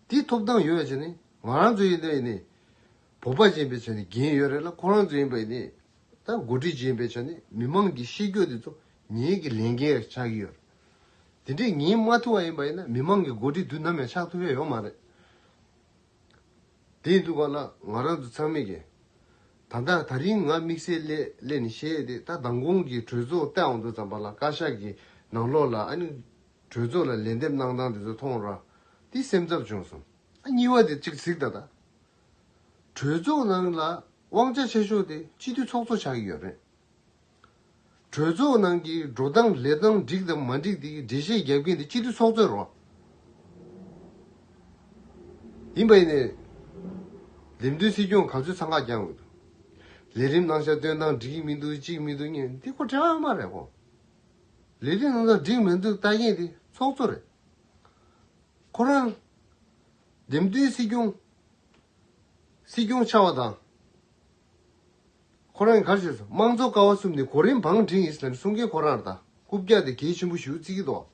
དེ་ཐོབ་ཐང་ཡོད་བའི་ཆ་ནས་ང་རང་ཚོ་ཡིན་དུས་ཡིན་ནས་བོད་པ་ཅན་པའི་ཆ་ནས་འགན་ཡོད་རེད་ལ་ཁོ་རང་ཚོ་ཡིན་པ་ཡིན་ནས་ད་འགོ་ཁྲིད་ཅན་པའི་ཆ་ནས་མི་མང་གི་ཤེས་རྒྱུ་དེ་ཚོ་ངེད་ཀྱི་ལས་འགན་ཆགས་ཀྱི་ཡོད་རེད། དེ་འདྲས་ངས་མ་ཐུག་བ་ཡིན་པ་ཡིན་ན་མི་མང་གི་མགོ་ཁྲིད་དུས་ནམ་ཡང་ཆགས་ཐུབ་ཡ་ཡོད་མ་རེད། དེ་ཡིན་དུས་གང་ན་ང་རང་ཚོ་ཚང་མས་ཀྱི། ད་ལྟ་ད་རིང་ང་དམིགས་བསལ་སླད་ནས་བཤད་ཡས་དེ་ད་མདང་དགོང་གི་གྲོས་ཚོགས་སྟེང་འོང་དུས་ཙམ་པ་ལ་བཀའ་ཤག་གི་ནང་ལོགས་ལ་ཨ་ནི་གྲོས་ཚོགས་ལ་ལན་འདེབས་གནང་སྟངས་དེ་ཚོ་མཐོང་ར་དེ་སེམས་འཚབ་བྱུང་སོང། ཨ་གཉིས་བ་དེ་གཅིག་གཟིགས་ད་ད། གྲོས་ཚོགས་ནང་ལ་དབང་ཆ་ཆེ་ཤོས་དེ་སྤྱི་འཐུས་ཚོགས་གཙོ་ཆགས་ཀྱི་ཡོད་རེད། གྲོས་ཚོགས་ནང་གི་འགྲོ་སྟངས་ལས་སྟངས་འགྲིག་དང་མ་འགྲིག་དེ་གི་འགྲེལ་བཤད་རྒྱབ་མཁན་དེ་སྤྱི་འཐུས་ཚོགས་གཙོའི་རོགས་ཡིན་པ་ཡིན་ནས། ལེབ་མདུན་སྲིད་སྐྱོང་ག་ཚོད་ཚང་ཁ་རྒྱག་འོས་འདུག་ལས་རིམ་གནང་བྱ་སྟོན་སྟངས་འགྲིག་གི་མི་འདུག་ཅིག་མི་འདུག་གཉིས་འདི་སྐོར་དྲི་བ་དངོས་མ་རེད་གོ། ལས་རིམ་གནང་སྟངས་འགྲིག་མི་འདུག་ལྟ་མཁན་དེ་ཚོགས་གཙོ་རེད། ཁོ་རང། ལེབ་མདུན་སྲིད་སྐྱོང། སྲིད་སྐྱོང་ཆགས་པ་དང། ཁོ་རང་གི་ཁར་ཆོས་སུ་དམངས་གཙོ་ཀ་བ་གསུམ་ནི་གོ་རིམ་བང་འགྲིག་ཨིསི་ལིམ་སྲུང་མཁན་ཁོ་རང་ར་ད་རྐུབ་བཀྱག་སྟེ་གལ་ཆེན་པོ་ཞིག་བརྩི་གི་འདུག་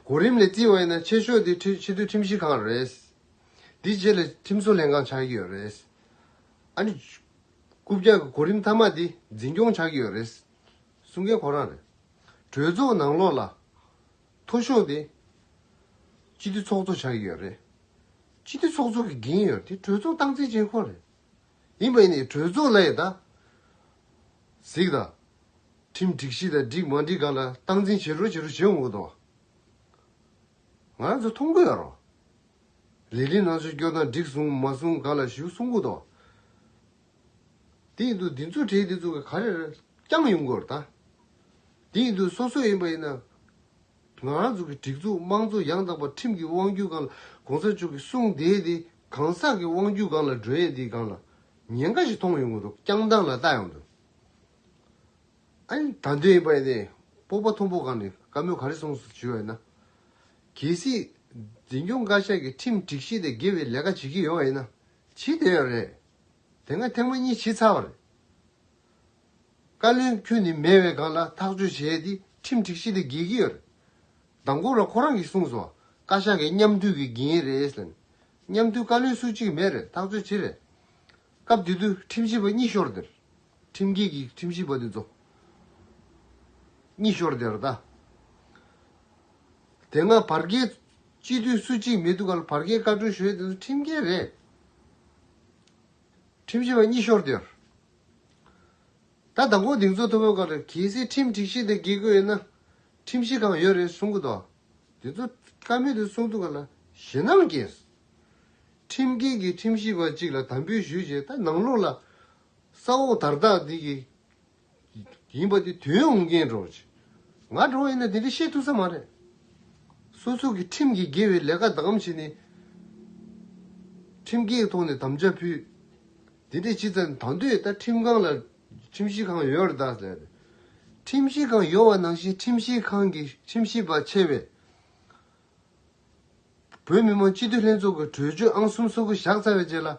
གོ་རིམ་ལས་བརྩི་བ་ཡིན་ན་ཆེ་ཤོས་དེ་ཕྱི་སྡོད་ཁྲིམས་ཞིབ་ཁང་རེད། དེ་རྗེས་ལ་ཁྲིམས་བཟོ་ལྷན་ཁང་ཆགས་ཀྱི་ཡོད་རེད། ཨ་ནི། རྐུབ་བཀྱག་གི་གོ་རིམ་མཐའ་མ་དེ་འཛིན་སྐྱོང་ཆགས་ཀྱི་ཡོད་རེད། སྲུང་མཁན་ཁོ་རང་རེད། གྲོས་ཚོགས་ནང་ལོགས་ལ། མཐོ་ཤོས་དེ། སྤྱི་འཐུས་ཚོགས་གཙོ་ཆགས་ཀྱི་ཡོད་རེད། སྤྱི་འཐུས་ཚོགས་གཙོ་གི་འགན་ཡོད་དེ་གྲོས་ཚོགས་སྟངས་འཛིན་བྱེད་ཁོ་རེད། ཡིན་པ་ཡིན་ནའི་གྲོས་ཚོགས་ལས་ད་གཟིགས་དང། ཁྲིམས་སྒྲིག་གཞི་དང་སྒྲིག་མ་སྒྲིག་ག་ལ་སྟངས་འཛིན་བྱེད་རོགས་བྱེད་རོགས་བྱེད་འོང་གི་འདུག། ང་ཚོ་མཐོང་གི་ཡོད་རོགས། ལས་རིམ་ནང་ཆོས་སྐྱོང་དང་སྒྲིག་བཟུང་མ་བཟུང་ག་ལ་ཞུ་གསུང་གི་འདུག། དེ་ཡིན་དུ་འདི་ཚོ་གྲས་འདི་ཚོ་གི་ག་རེར་བསྐྱངས་ཡོང་དགོས་རེད་ད། དེ་ཡིན་དུ་སོ་སོ་ཡིན་པ་ཡིན་ན། ང་རང་ཚོ་གི་སྒྲིག་འཛུགས་དམངས་གཙོ་ཡང་དག་པ་ཁྲིམས་ཀྱི་དབང་སྒྱུར་སྒང་ལ་གོང་ས་མཆོག་གི་གསུང་དེའི་དེ་གང་ཟག་གི་དབང་སྒྱུར་སྒང་ལ་སྒྲོན་ཡས་དེའི་སྒང་ལ་ཉེན་ཁ་ཞིག་མཐོང་ཡོང་དགོས་འདུག་བསྐྱངས་སྟངས་ལ་ལྟ་ཡོང་དུ། ཨཱ་ད་འདོད་ཡིན་པ་ཡིན་ནས་སྤོབས་པ་ཐོང་པོ་སྒང་ནས་བཀའ་མོལ་ག་རེ་གསུང་སོང་ཞུས་བ་ཡིན་ན། གལ་སྲིད། འཛིན་སྐྱོང་བཀའ་ཤག་གི་ཁྲིམས་སྒྲིག་གཞི་དེ་དགེ་བའི་ལས་ཀ་བྱེད་ཀྱི་ཡོད་བ་ཡིན་ན། ཇི་དེ་ཡང་རེད། དེ་སྔ་ཐེངས་མ་གཉིས་ཕྱི་ཚ་བར། བཀའ་བློན་ཁྱོད་ནི་མེས་བའི་སྒང་ལ་ཐག་གཅོད་བྱས་ཏེ་ཁྲིམས་སྒྲིག་གཞི་ལས་བརྒལ་གྱི་ཡོད། མདང་དགོང་ར་ཁོ་རང་གིས་གསུངས་སོང་བཀའ་ཤག་གིས་མཉམ་འཐུས་ཀྱི་འགན་རེད་ཟེར། མཉམ་འཐུས་བཀའ་བློན་སུ་གཅིག་མེད་རེད་ཐག་གཅོད་ཅི་རེད། སྐབས་དེ་དུས་ཁྲིམས་ཞིབ་པ་གཉིས་ཤོར་དེར། ཁྲིམས་འགལ་གྱིས་ཁྲིམས་ཞིབ་པ་དེ་ཚོ། གཉིས་ཤོར་དེར་ད། དེ་སྔ་བར་བརྒལ་སྤྱི་འཐུས་སུ་གཅིག་མེད་དུས་བར་བརྒལ་བཀའ་དྲུང་ཞོལ་དེ་ཚོ་ཁྲིམས་འགལ་རེད། ཁྲིམས་ཞིབ་པ་གཉིས་ཤོར་དུས། ད་ལྟ་མགོ་རྡིང་ཚོགས་ཐུབ་པའི་སྐོར་གལ་སྲིད་ཁྲིམས་སྒྲིག་གཞི་དེ་འགེལ་དགོས་ཡོད་ན། ཁྲིམས་གཞི་གང་ཡོད་རེད་གསུང་གི་འདུག་དེ་ཚོ་ཀ་མེད་དུ་གསུང་འདུག་ག་ལ་ཞེ་སྣང་སྐྱེས། ཁྲིམས་འགལ་གྱི་ཁྲིམས་ཞིབ་པ་གཅིག་ལ་དམ་འབུལ་ཞུས་རྗེས་ད་ནང་ལོགས་ལ་ས་འོག་དར་ཐག་འདི་ཀྱི། ཡིན་པ་དེ་དོན་འོང་གིན་རོགས་གྱིས། ང་འགྲོ་བ་ཡིན་ན་དེ་འདྲའི་བཤད་ཐུབ་ས་མ་རེད། སོ་སོ་གི་ཁྲིམས་ཀྱི་དགེ་བའི་ལས་ཀ་བདག་གམ་བྱས་ནས། ཁྲིམས་འགལ་ཐོག་ནས་དམ་བཅའ་ཕུལ། དེ་འདྲས་བྱས་ཙང་ད་འདོད་ད་ཁྲིམས་ཁང་ལ་ཁྲིམས་ཞིབ་ཁང་ཡོད་ར་ད་ཟེར། ཁྲིམས་ཞིབ་ཁང་ཡོད་བ་ནང་བཞིན་ཁྲིམས་ཞིབ་ཁང་གི་ཁྲིམས་ཞིབ་པ་ཆེ་བས། བོད་མི་མང་སྤྱི་འཐུས་ལྷན་ཚོགས་ཀྱི་གྲོས་ཆོད་ཨང་གསུམ་སོ་དགུ་བཞག་ཚར་བའི་རྗེས་ལ།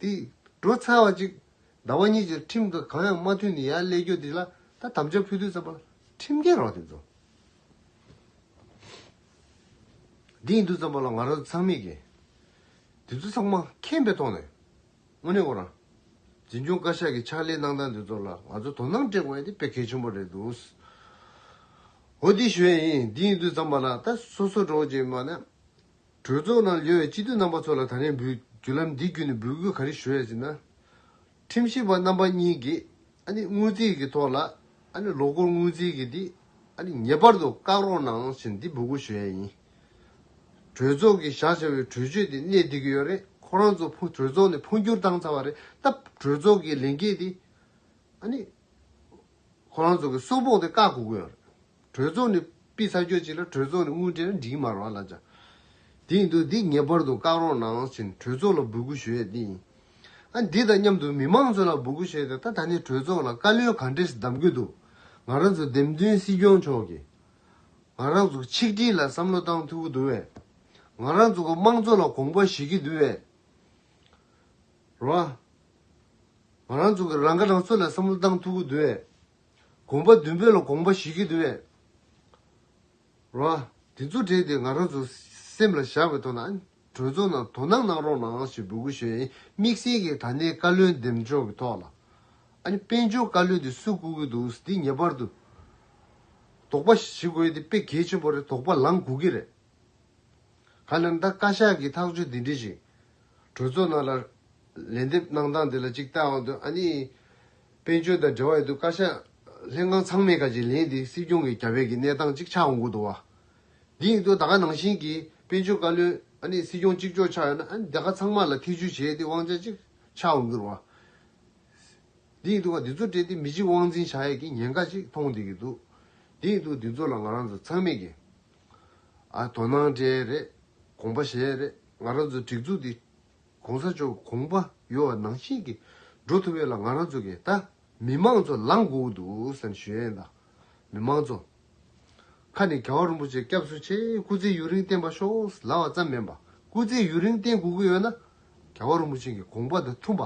དེ། བྲོ་ཚ་བ་གཅིག། ཟླ་བ་གཉིས་ཀྱི་ཁྲིམས་དང་གང་ཡང་མ་མཐུན་ནས་ཡར་སླེ་རྒྱུ་དེ་ལ་ད་དམ་བཅའ་ཕུལ་དུས་ཙམ་པར་ཁྲིམས་རྒྱལ་རོགས་དེ་ཚོ། དེ་ཡིན་དུས་ཙམ་པར་ལ་ང་རོ་ཚང་མིག་གིས། དེ་ཚོ་ཚང་མ་ཁེངས་པའི་ཐོག་ནས། དངོས་གནས་ཁོ་རང། འཛིན་སྐྱོང་བཀའ་ཤག་གི་ཕྱག་ལས་གནང་སྟངས་དེ་ཚོ་ལ་ང་ཚོ་དོ་སྣང་སྤྲད་དགོས་ཡ་དེ་དཔེ་གལ་ཆེན་པོ་རེད་འདུག། འོ་དེ་ཞོའི་ཡིན་དེ་ཡིན་དུས་ཙམ་པར་ལ་ད་སོ་སོ་འགྲོ་ཅེས་པ་ནི། གྲོས་ཚོགས་ནང་ལྷོད་བའི་སྤྱི་འཐུས་རྣམ་པ་ཚོ་ལ་ད་རེས་འབུལ་རྒྱུ་ལམ་འདི་བརྒྱུད་ནས་འབུལ་དགོས་ག་རེ་ཞུ་ཡ་ཟེར་ན། ཁྲིམས་ཞིབ་པ་རྣམ་པ་གཉིས་ཀྱིས་ཨ་ནི་དངུལ་རྩིས་ཀྱི་ཐོག་ལ་ཨ་ནི་ལོ་འཁོར་དངུལ་རྩིས་ཀྱི་འདི་ཨ་ནི་ངེས་པར་དུ་བཀག་རོགས་གནང་ཟེར་འདི་འབུལ་དགོས་ཞུ་ཡ་ཡིན། གྲོས་ཚོགས་ཀྱིས་བཞག་བཞག་བའི་གྲོས་ཆོད་འདི་གནད་བསྡུས་ཀྱི་ཡོད་རེད་ཁོ་རང་ཚོ་ཕུ་གྲོས་ཚོགས་ནས་འཕོ་འགྱུར་བཏང་ཚར་བ་རེད་སྟབས་གྲོས་ཚོགས་ཀྱི་ལས་འགན་འདི་ཨ་ནི་ཁོ་རང་ཚོ་གི་སོ་ཕོག་འདི་བཀག་དགོས་ཀྱི་ཡོད་རེད། གྲོས་ཚོགས་ནས་པི་ཚ་གྱོད་ཅིག་ལ་གྲོས་ཚོགས་ནས་དངུལ་སྤྲད་ན་འགྲིག་མ་རོགས་ལབ་ཅག་དེ་ཡིན་དུས་འདི་ངེས་པར་དུ་བཀག་རོགས་གནང་ཞེས་ནས་གྲོས་ཚོགས་ལ་འབོད་སྐུལ་ཞུ་ཡས་དེ་ཡིན། ཨ་འདི་དང་མཉམ་དུ་མི་མང་ཚོས་ལ་འབོད་སྐུལ་ཞུ་ཡས་ད་ད་ནས་གྲོས་ཚོགས་ལ་བཀའ་བློན་ག་འདྲེས་གདམ་གྱི་འདུག་ང་རང་ཚོ་འདེམས་ཐོན་སྲིད་སྐྱོང་མཆོག་གིས་ང་རང་ཚོ་ཆིག་སྒྲིལ་ལ་བསམ་བློ་བཏང་ཐུབ་ཀྱི་འདུག་བས། ང་རང་ཚོ་གི་དམངས་གཙོ་ལ་གོང་བ་ཞིག་གྱི་འདུག་བས། རོགས། ང་རང་ཚོ་གི་རང་ཁ་རང་གསོ་ལ་བསམ་བློ་བཏང་ཐུབ་ཀྱི་འདུག་བས། དགོངས་པ་བདུན་པོ་ལ་དགོངས་པ་བཞི་གིས་འདུལ་བའི་རོ། དེ་རྫུ་འཕྲུལ་དེ་ང་རང་ཚོའི་སེམས་ལ་བཞག་པའི་ཐོག་ན་གྲོས་ཚོགས་ནང་དོ་སྣང་གནང་རོགས་གནང་ཞེས་འབོད་སྐུལ་ཞུ་ཡིན་དམིགས་བསལ་གྱིས་ད་ནས་བཀའ་བློན་འདེམས་ཕྱོགས་ཀྱི་ཐོག་ལ་དཔལ་འབྱོར་བཀའ་བློན་དེ་སུས་བསྐོ་གི་འདུག་འདི་ངེས་པར་དུ་དོགས་པ་ཞི་དགོས་དེ་དཔེ་གལ་ཆེན་པོ་རེད་དོགས་པ་ལངས་དགོས་ཀྱི་རེད་ག་ལེར་ད་བཀའ་ཤག་གིས་ཐག་གཅོད་འདི་འདྲི་བཞིན། གྲོས་ཚོགས་ནང་ལ་ལན་འདེབས་གནང་སྟངས་དེ་ལ་གཅིག་ལྟ་འོང་དུ་ཨ་ནི། དཔལ་འབྱོར་དང་འབྲེལ་བ་ཡོད་དུས་བཀའ་ཤག་ལྷན་ཁང་ཚང་མས་བཀའ་བྱེད་ལན་དེ་སྲིད་སྐྱོང་གི་རྒྱ་བལ་གྱི་གནས་སྟངས་གཅིག་ཆགས་འོང་དགོས་འདུག་བ། འདི་ཡིན་དུས་ད་ག་ནང་བཞིན་གྱི་དཔལ་འབྱོར་བཀའ་བློན་ཨ་ནི་སྲིད་སྐྱོང་གཅིག་ལྕོགས་ཆགས་ཡོད་ན་ཨ་ནི་དེ་ག་ཚང་མ་ལ་ཐེ་བྱུས་བྱས་ཏེ་དབང་ཆ་གཅིག་ཆགས་འོང་གིར་བ། འདི་ཡིན་དུས་བ་འདི་ཚོ་སྤྲད་དེ་མི་གཅིག་དབང་འཛིན་བྱ་ཡས་ཀྱི་ཉེན་ཁ་གཅིག་མཐོང་བསྡད་གི་འདུག་འདི་ཡིན་དུས་འདི་ཚོ་ལ་ང་རང་ཚོ་ཚང་མས་ཀྱི། ཨ་དོ་སྣང་སྤྲད་རེད་དགོངས་པ་བཞེས་རེད། ང་རང་ཚོའི་སྒྲིག་འཛུགས་འདི ྋགོང་ས་མཆོག་གོང་པ་ཡོ་བ་ནང་བཞིན་གྱིས་འགྲོ་ཐུབ་ཡོད་ལ་ང་རང་ཚོ་གིས་ད་མི་མང་ཚོ་ལངས་དགོས་ཀྱི་འདུག་སེམས་ཞུ་ཡན་དང་མི་མང་ཚོ། ཁ་ནས་ག་བ་རིན་པོ་ཆེ་སྐྱབས་སུ་མཆི་སྐུ་ཚེ་ཡུན་རིང་བརྟན་པ་ཤོག་ལབ་བ་ཙམ་མིན་པ་སྐུ་ཚེ་ཡུན་རིང་བརྟན་དགོས་ཀྱི་ཡོད་ན་ག་བ་རིན་པོ་ཆེ་གི་གོང་པ་དང་འཐུན་པ་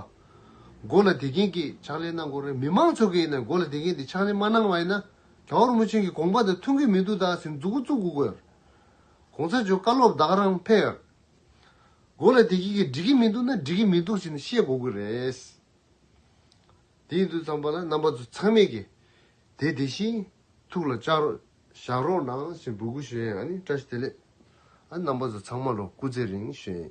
མགོ་ལ་དེ་གིན་གྱིས་ཕྱག་ལེན་གནང་དགོས་རེད་མི་མང་ཚོ་གིས་ནས་མགོ་ལ་དེ་གིན་གྱིས་ཕྱག་ལེན་མ་གནང་བ་ཡིན་ན་ག་བ་རིན་པོ་ཆེ་གི་གོང་པ་དང་འཐུན་གྱི་མི་འདུག་ད་སེམས་འཛུགས་འགོ་བཙུགས་དགོས་ཀྱི་ཡོད་རེད་གོང་ས་མཆོག་བཀའ་སློབ་བདག་རང་ཕེབས་ཡག་གོ་ལེ་དེ་ཁྱེད་ཀྱིས་འགྲིག་གི་མི་འདུག་ན་འགྲིག་གི་མི་འདུག་ཞེས་ནི་ཤེས་གོ་དགོས་རེད། དེ་ཡིན་དུས་ཙམ་པ་ལ་རྣམ་པ་ཚོ་ཚང་མས་ཀྱི་དེ་དེ་བཞིན་ཐུགས་ལ་བཅག་རོགས་བཞག་རོགས་གནང་ཞེས་འབོད་སྐུལ་ཞུ་ཡ་ཡང་ནི་བཀྲ་ཤིས་བདེ་ལེགས། རྣམ་པ་ཚོ་ཚང་མ་ལོ་སྐུ་ཚེ་རིང་ཞེས།